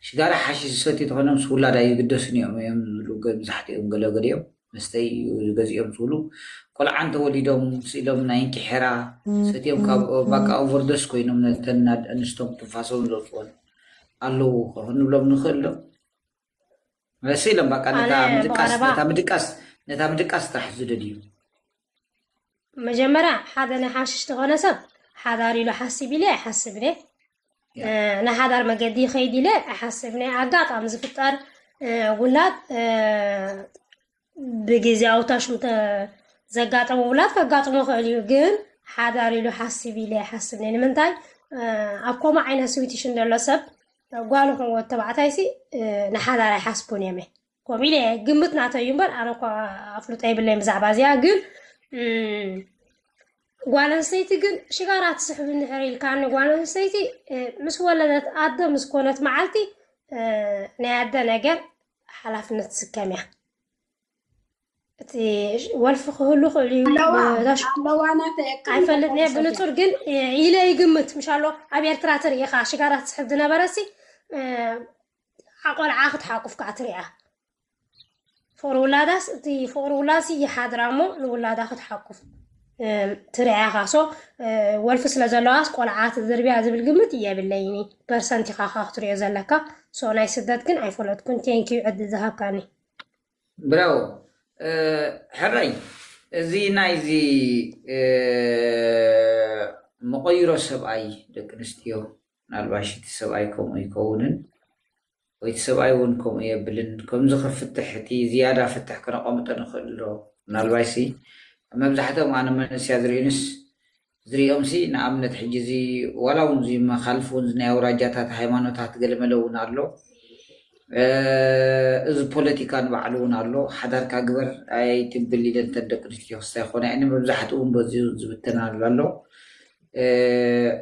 ሽጋራ ሓሺ ዝሰትዩ ተኾይኖም ምስ ውላድ ኣይግደሱን እዮም እዮም ዝብሉ መብዛሕትኦም ገለገሊኦም መስተይ እዩ ዝገዝኦም ዝብሉ ቆልዓ እንተወሊዶም ስኢሎም ናይ እንኪ ሐራ ሰትዮም ካብ ባቃ ኦቨርዶስ ኮይኖም ነተን ኣንስቶም ትንፋሶም ዘውፅወን ኣለው ክንብሎም ንኽእል ዶ? ስኢሎም ባቃ ነታ ምድቃስ ነታ ምድቃስ ጥራሕ ዝደልዩ መጀመርያ ሓደ ናይ ሓሽሽ ዝኾነ ሰብ ሓዳር ኢሉ ሓሲብ ኢለ ኣይሓስብን እየ ናይ ሓዳር መገዲ ይኸይድ ኢለ ኣይሓስብን እየ ኣጋጣሚ ዝፍጠር ውላድ ብግዜያዊ ታሽሙ ዘጋጠመ ውላድ ከጋጥሞ ይኽእል እዩ ግን ሓዳር ኢሉ ሓሲብ ኢለ ኣይሓስብን እየ ንምንታይ ኣብ ከምኡ ዓይነት ስዊትሽን ዘሎ ሰብ ጓል ይኹን ወዲ ተባዕታይ ሲ ንሓዳር ኣይሓስቡን እዮም እየ ከምኡ ኢለ ግምት ናተይ እዩ እምበር ኣነ እኳ ኣፍልጦ የብለይን ብዛዕባ እዚኣ ግን ጓል ኣንስተይቲ ግን ሽጋራ ትስሕብ እንድሕር ኢልካኒ ጓል ኣንስተይቲ ምስ ወለደት ኣደ ምስ ኮነት መዓልቲ ናይ ኣደ ነገር ሓላፍነት ትስከም እያ እቲ ወልፊ ክህሉ ክእሉ ኣይፈልጥ ነ ብንፁር ግን ኢለ ይግምት ምሻሎ ኣብ ኤርትራ ትርኢኻ ሽጋራ ትስሕብ ዝነበረሲ ቆልዓ ክትሓቁፍ ከዓ ትሪኣ ፍቅሪ ውላዳስ እቲ ፍቅሪ ውላድሲ ይሓድራ እሞ ንውላዳ ክትሓቁፍ ትሪኣ ኢኻ ሶ ወልፊ ስለ ዘለዋስ ቆልዓ ትዝርብያ ዝብል ግምት የብለይኒ ፐርሰንት ኢኻ ካ ክትሪኦ ዘለካ ሶ ናይ ስደት ግን ኣይፈለጥኩን ቴንኪዩ ዕዲ ዝሃብካኒ ብራው ሕራይ እዚ ናይዚ መቐይሮ ሰብኣይ ደቂ ኣንስትዮ ምናልባሽ እቲ ሰብኣይ ከምኡ ኣይከውንን ወይ እቲ ሰብኣይ እውን ከምኡ የብልን ከምዚ ክፍትሕ እቲ ዝያዳ ፍትሕ ክነቐምጦ ንኽእል ዶ ምናልባሽሲ ኣብ መብዛሕትኦም ኣነ መንእስያ ዝርእዩንስ ዝርእዮምሲ ንኣብነት ሕጂ እዚ ዋላ እውን እዚ መኻልፍ እውን ናይ ኣውራጃታት ሃይማኖታት ገለመለ እውን ኣሎ እዚ ፖለቲካ ንባዕሉ እውን ኣሎ ሓዳርካ ግበር ኣይትብል ኢለን ተን ደቂ ኣንስትዮ ክስታይ ክኾና እየን መብዛሕትኡ እውን በዚኡ ዝብተናሉ ኣሎ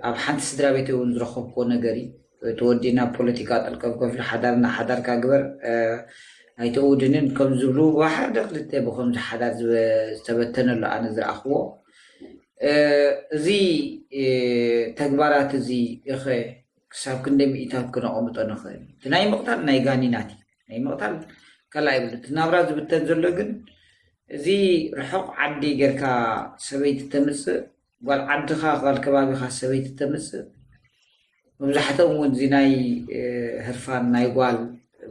ኣብ ሓንቲ ስድራቤተይ እውን ዝረኸብኩዎ ነገር እዩ። እቲ ወዲ ናብ ፖለቲካ ጠልቀም ከፍሉ ሓዳር ንሓዳርካ ግበር ኣይተእውድንን ከም ዝብሉ ብሓደ ክልተ ብከምዚ ሓዳር ዝተበተነ ኣሎ ኣነ ዝረኣኽዎ እዚ ተግባራት እዚ እኸ ክሳብ ክንደይ ምኢታት ክነቐምጦ ንኽእል እቲ ናይ ምቕታል ናይ ጋኒናት እዩ ናይ ምቕታል ካልኣ ይብሉ እቲ ናብራ ዝብተን ዘሎ ግን እዚ ርሑቕ ዓዲ ጌርካ ሰበይቲ ተምፅእ ጓል ዓድኻ ጓል ከባቢኻ ሰበይቲ ተምጽእ መብዛሕትኦም እውን እዚ ናይ ህርፋን ናይ ጓል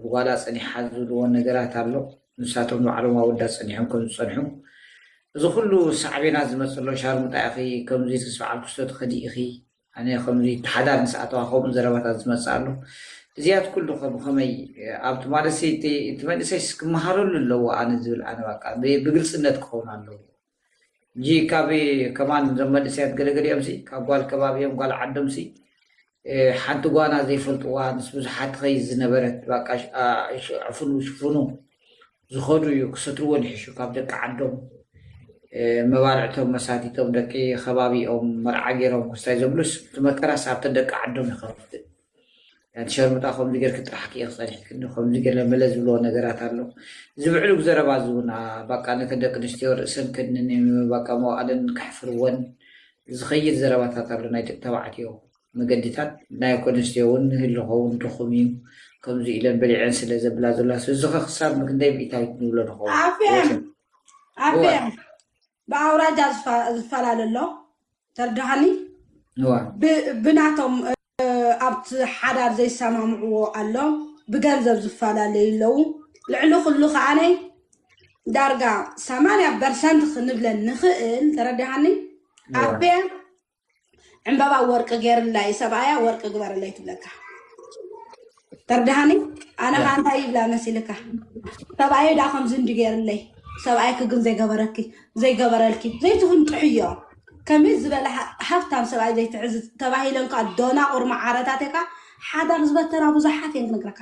ብጓላ ጸኒሓ ዝብልዎ ነገራት ኣሎ ንሳቶም ባዕሎም ኣወዳት ጸኒሖም ከም ዝጸንሑ እዚ ኩሉ ሳዕቤናት ዝመፅእ ኣሎ ሻርሙጣ ኢኺ ከምዚ ምስ በዓል ክስቶ ትኸዲ ኢኺ ኣነ ከምዚ ተሓዳር ምስ ኣተዋ ከምኡ ዘረባታት ዝመፅእ ኣሎ እዚያት ኩሉ ከ ብኸመይ ኣብቲ ማለት እቲ መንእሰይስ ክመሃረሉ ኣለዎ ኣነ ዝብል ኣነ በቃ ብግልፅነት ክኸውን ኣለዎ እጂ ካብ ከማን እዞም መንእሰያት ገለገሊኦም ሲ ካብ ጓል ከባቢኦም ጓል ዓዶም ሲ ሓንቲ ጓና ዘይፈልጥዋ ምስ ብዙሓት ኸይ ዝነበረት ባቃ ዕፍኑ ሽፍኑ ዝኸዱ እዩ ክሰትርዎን ይሕሹ ካብ ደቂ ዓዶም መባልዕቶም መሳቲቶም ደቂ ከባቢኦም መርዓ ገይሮም ክስታይ ዘብሉስ እቲ መከራስ ኣብተን ደቂ ዓዶም ይኸፍት ኣንቲ ሸርሙጣ ከምዚ ጌርኪ ጥራሕ ክኢኺ ጸኒሕክኒ ከምዚ ገለ መለ ዝብልዎ ነገራት ኣሎ እዚ ብዕሉግ ዘረባ እዚ እውን ባቃ ነተን ደቂ ኣንስትዮ ርእሰን ከድንን ባቃ መዋእለን ከሕፍርወን ዝኸይድ ዘረባታት ኣሎ ናይ ደቂ ተባዕትዮ መገዲታት ናይ ደቂ ኣንስትዮ እውን ህልኾ እውን ድኹም እዩ ከምዚ ኢለን በሊዐን ስለ ዘብላ ዘላ እዚ ኸ ክሳብ ክንደይ ሚእታዊት ንብሎ ንኸውን ኣፍኤም ኣፍኤም ብኣውራጃ ዝፈላለ ኣሎ ተርድሃኒ ብናቶም ኣብቲ ሓዳር ዘይሰማምዕዎ ኣሎ ብገንዘብ ዝፈላለዩ ኣለዉ ልዕሊ ኩሉ ከዓነ ዳርጋ ሰማንያ ፐርሰንት ክንብለን ንኽእል ተረድሃኒ ኣቤ ዕምበባ ወርቂ ገይርላ እዩ ሰብኣያ ወርቂ ግበረለይ ትብለካ ተርድሃኒ ኣነ ያ ከዓ እንታይ ይብላ መሲልካ ሰብኣየ ዳ ከምዚ እንዲ ገይርለይ ሰብኣይኪ ግን ዘይገበረኪ ዘይገበረልኪ ዘይትፍንጥሕዮ ከመይ ዝበለ ሃ- ሃብታም ሰብኣይ ዘይትሕዝ ተባሂለን ከዓ ዶናቑር መዓረታትካ ሓዳር ዝበተና ብዙሓት እየን ክነግረካ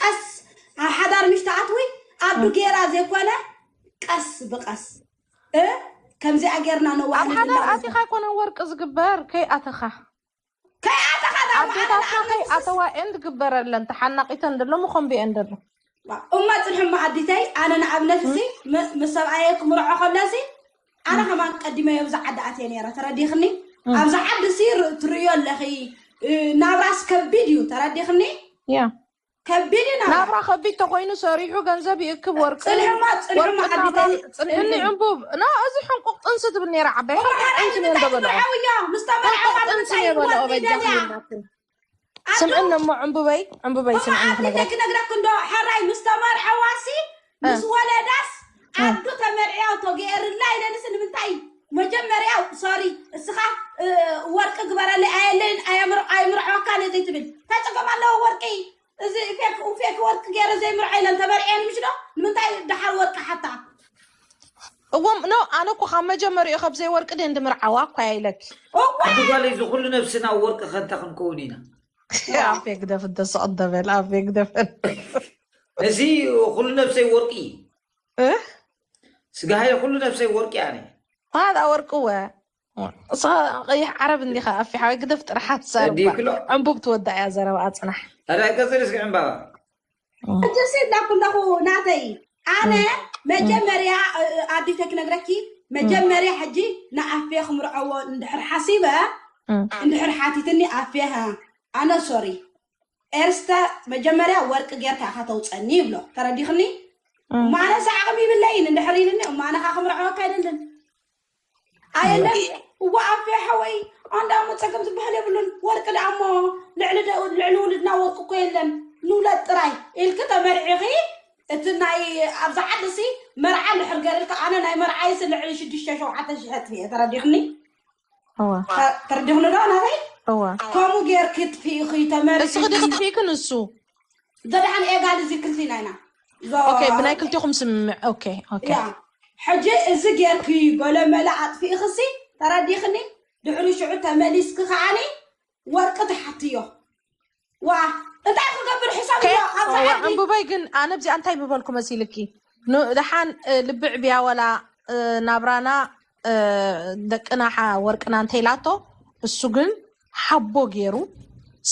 ቀስ ኣብ ሓዳር ምሽ ትኣትዊ ኣዱ ጌራ ዘይኮነ ቀስ ብቀስ እ ከምዚኣ ጌርና ኣብ ነዋሕልል ሓዳር እና ኣቲኻ ንርከብ ኣይኮነን ወርቂ ዝግበር ከይኣተኻ ከይኣተኻ ዳሞ ኣነ ኣዴታትና ንኣብነት ውስስ ከይኣተዋ ኤን ዝግበረለን ተሓናቂተን ደሎ መኾምቢኤን ደሎ እማ ፅንሕማ ኣዲተይ ኣነ ንኣብነት እሲ ምስ ሰብኣየ ክምርዖ ከሎ እሲ ኣነ ከማን ቀዲመ ኣብዚ ዓዲ ኣትየ ነይረ ተረዲኽኒ ኣብዚ ዓዲ ሲ ትርእዮ ኣለኺ ናብራስ ከቢድ እዩ ተረዲኽኒ ከቢድ እዩ ናብራ ከቢድ ተኮይኑ ሰሪሑ ገንዘብ ይእክብ ወርቂ ፅንሕማ ፅንሕማ ዓዲተይ ፅንሕኒ ዕንቡብ ና እዚ ሕንቁቅ ጥንሲ ትብል ነይራ ዓባይ ሕንቁቅ ጥንሲ ነይሩ ደበለ ምስ ተመርዓዋ ጥንሲ ነይሩ በለ ኦበጃ ስምዕን እሞ ዕምብበይ ዕምብበይ ስምዕን ክነግረክ ክነግረክ እንዶ ሓራይ ምስ ተመርሐዋሲ ምስ ወለዳስ ዓዱ ተመርዕያ ተገይርላ ኢለንስ ንምንታይ መጀመርያ ሶሪ እስኻ ወርቂ ግበረለይ ኣየለይን ኣይምርዖካን እየ ዘይትብል እንታይ ፀገም ኣለዎ ወርቂ እዚ ፌክ ፌክ ወርቂ ገይረ ዘይምርዓይ ኢለን ተበሪዐን ምሽ ዶ ንምንታይ ደሓር ወርቂ ሓታ እዎ ኖ ኣነ እኮ ካብ መጀመሪኡ ካብ ዘይወርቂ ድን ድምርዓዋ እኳ እያ ኢለኪ ዓዲ ጓለይ እዚ ኩሉ ነብስና ኣብ ወርቂ ከንታ ክንከውን ኢና ኣብ ግደፍ ደስቕ ደበል ኣብ ግደፍ እዚ ኩሉ ነብሰይ ወርቂ እዩ ስጋሃየ ኩሉ ነብሰይ ወርቂ ኣነ ሃዳ ወርቂ ወ እሳ ቀይሕ ዓረብ እንዲኻ ኣፊ ሓወይ ግደፍ ጥራሕ ኣትዛርባ እዲክሎ ዕንቡብ ትወዳእ እያ ዘረባኣ ፅናሕ ኣዳይ ቀፅል እስኪ ዕምባባ ጀሴ ላኩለኹ ናተይ ኣነ መጀመርያ ኣዲተ ክነግረኪ መጀመርያ ሕጂ ንኣፍየ ክምርዐዎ እንድሕር ሓሲበ እንድሕር ሓቲትኒ ኣፍየ ኣነ ሶሪ ኤርስተ መጀመርያ ወርቂ ጌርካ ኢኻ ተውፀኒ ይብሎ ተረዲኽኒ እሞ እም፣ ኣነስ ዓቕሚ ይብለይን እንድሕር ኢልኒ እሞ ኣነ ከዓ ክምርዐወካ ኣይደልን ኣየለን እየ እዋ ኣፌ ሓወይ ኣንዳ እሞ ፀገም ዝበሃል የብሉን ወርቂ ደኣ እሞ ልዕሊ ደ- ልዕሊ ውልድና ወርቂ እኮ የለን ንውለድ ጥራይ ኢልኪ ተመርዒኺ እቲ ናይ ኣብዚ ዓዲ ሲ መርዓ እንድሕር ገርልካ ኣነ ናይ መርዓይሲ ልዕሊ ሽዱሽተ ሸውዓተ ሽሕት እየ ተረዲኽኒ ተርዲኽኒ ዶ ናተይ ከምኡ ጌርኪ ጥፍኢኺ ተመልሲ እስኺ ድኺ ጥፍኢኪ ንሱ ገድሓን ኤጋል እዚ ክልቲና ኢና ኦኬ ብናይ ክልቲኹም ስምምዕ ኦኬ ኦኬ ሕጂ እዚ ጌርኪ ገለመለ ኣጥፍኢኺሲ ተረዲኽኒ ድሕሪ ሽዑ ተመሊስኪ ከዓኒ ወርቂ ትሓትዮ ዋ እንታይ ክገብር ሕሳብ ዕምቡበይ ግን ኣነ ብዚኣ እንታይ ምበልኩ መሲልኪ ድሓን ልቢ ዕብያ ወላ ናብራና ደቅና ወርቅና እንተይላቶ እሱ ግን ሓቦ ገይሩ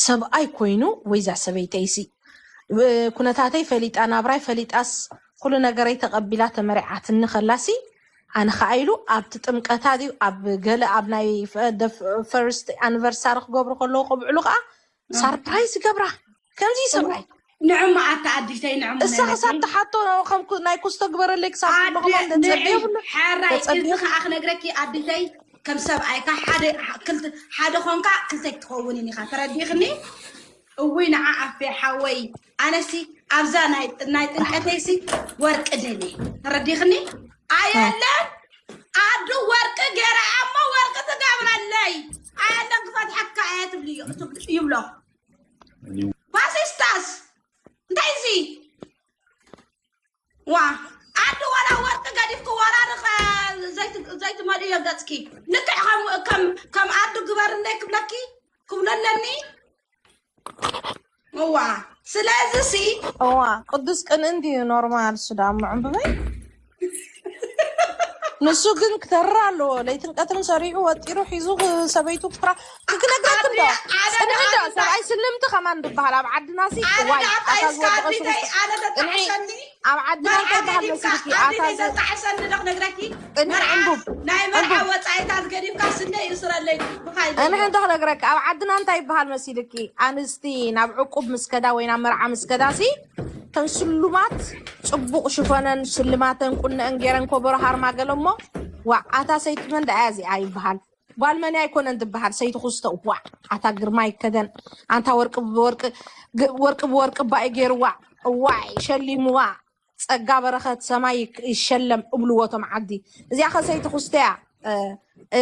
ሰብኣይ ኮይኑ ወይዛ ሰበይተይሲ ኩነታተይ ፈሊጣ ናብራይ ፈሊጣስ ኩሉ ነገረይ ተቐቢላ ተመሪዓትኒ ከላሲ ኣነ ከዓ ኢሉ ኣብቲ ጥምቀታ ድዩ ኣብ ገለ ኣብ ናይ ፈርስት ኣኒቨርሳሪ ክገብሩ ከለዉ ከብዕሉ ከዓ ሳርፕራይዝ ይገብራ ከምዚ ይሰብራይ ንዕማ ኣታ ኣዲተይ ንዕማ እሳ ክሳብ ነነተይ ትሓቶ ከም ኩ- ናይ ኩስቶ ግበረለይ ክሳብ ኣደ ትብሎ ከማን ንዒ ተፀብዮ ብሎ ሓራይ እዚ ተፀብዮ ከዓ ክነግረኪ ኣዲተይ ከም ሰብኣይካ ሓደ ሕ- ክልተ ሓደ ኮንካ ክልተ ክትኸውንን ኢኻ ተረዲእኽኒ እውይ ንዓ ኣፌ ሓወይ ኣነሲ ኣብዛ ናይ ጥንቀተይሲ ወርቂ ደልየ ተረዲኽኒ ኣየለን ኣዱ ወርቂ ገራ ኣሞ ወርቂ ትገብረለይ ኣየለን ክፈትሐካ እየ ትብሉ ይብሎ ፓሲስታስ እንታይ እዚ ዋ ኣዲ ዋላ ወርቂ ገዲፍኪ ዋላ ርኸ ዘይትመልእዮ ገፅኪ ልክዕ ከም ኣዱ ግበርለይ ክብለኪ ክብሎ ኣለኒ እዋ ስለዚ ሲ እዋ ቅዱስ ቅን እንድዩ ኖርማል እሱ ዳ ምዕምብበይ ንሱ ግን ክተርር ኣለዎ ለይትን ቀትርን ሰሪዑ ወጢሩ ሒዙ ሰበይቱ ክራ ክነግረኩም ዶ ፅንሒ ዶ ሰብኣይ ስልምቲ ከማን ዝበሃል ኣብ ዓድና ሲ ዋይ ኣታ ዝወደቐ ሽጉርቲ እንዒ ኣብ ዓድና እንታይ በሃል መሲልኪ ኣታ ዘጣዕሰኒ ዶ ክነግረኪ እንዒ ዕንቡብ ናይ መርዓ ወፃኢታ ዝገዲምካ ስነ ይእስረለይ እንሒ እንተ ክነግረኪ ኣብ ዓድና እንታይ ይበሃል መሲልኪ ኣንስቲ ናብ ዕቁብ ምስ ከዳ ወይ ናብ መርዓ ምስ ከዳ ሲ ተን ስሉማት ፅቡቕ ሽፈነን ስልማተን ቁነአን ገይረን ኮበሮ ሃርማ ገለ እሞ ዋ ኣታ ሰይቲ መን ደኣ እዚኣ ይበሃል ጓል መን ኣይኮነን ትበሃል ሰይቲ ኩስቶ ዋዕ ኣታ ግርማ ይከደን ኣንታ ወርቂ ብወርቂ ግ- ወርቂ ብወርቂ እባ እዩ ገይርዋ እዋይ ሸሊምዋ ፀጋ በረኸት ሰማይ ይክ- ይሸለም እብልዎ እቶም ዓዲ እዚኣ ከ ሰይቲ ኩስተ እያ እ፣ እ፣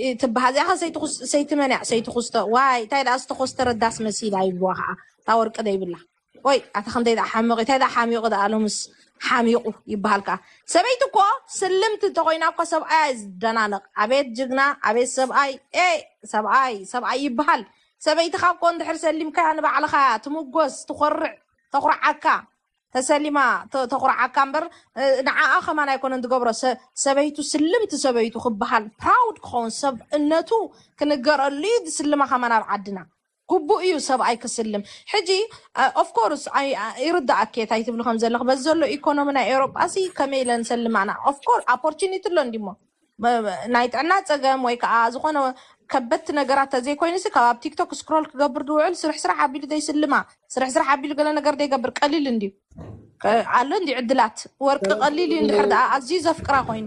እ፣ ትበሃል እዚኣ ከ ሰይቲ ኩስ- ሰይቲ መን እያ ሰይቲ ኩስቶ ዋይ እንታይ ደኣ ዝተኮስተረ ዳስ መሲላ ይብልዋ ከዓ እታ ወርቂ ዘይብላ ቆይ ኣታ ከምታይ ደኣ ሓመቂ እንታይ ደኣ ሓሚቁ ደኣ ሎምስ ሓሚቁ ይበሃል ከኣ ሰበይቲ እኮ ስልምቲ እንተኮይና እኮ ሰብኣያ እዩ ዝደናነቅ ኣቤት ጅግና ኣቤት ሰብኣይ ኤ ሰብኣይ ሰብኣይ ይበሃል ሰበይትኻ እኮ እንድሕር ሰሊምካያ ንባዕልኻ እያ ትምጎስ ትኮርዕ ተኩርዓካ ተሰሊማ ተ- ተኩርዓካ እምበር እ፣ ንዓኣ ከማን ኣይኮነን ትገብሮ ሰ- ሰበይቱ ስልምቲ ሰበይቱ ክበሃል ፕራውድ ክኸውን ሰብእነቱ ክንገረሉ እዩ ዝስልማ ከማን ኣብ ዓድና ግቡእ እዩ ሰብኣይ ክስልም ሕጂ ኦፍ ኮርስ ይርዳኣኪ እየ ታይ ትብሊ ከም ዘለኺ በዚ ዘሎ ኢኮኖሚ ናይ ኤውሮጳ ሲ ከመይ ኢለን ሰልማና ኦፍ ኮርስ ኦፖርቹኒቲ ኣሎ እንዲሞ ናይ ጥዕና ፀገም ወይ ከዓ ዝኾነ ከበድቲ ነገራት ተዘይኮይኑ ሲ ካብ ኣብ ቲክቶክ ስክሮል ክገብር ድውዕል ስርሕ ስራሕ ኣቢሉ ዘይስልማ ስርሕ ስራሕ ኣቢሉ ገለ ነገር ዘይገብር ቀሊል እንዲዩ ኣሎ እንዲ ዕድላት ወርቂ ቀሊል እዩ እንድሕር ደኣ ኣዝዩ ዘፍቅራ ኮይኑ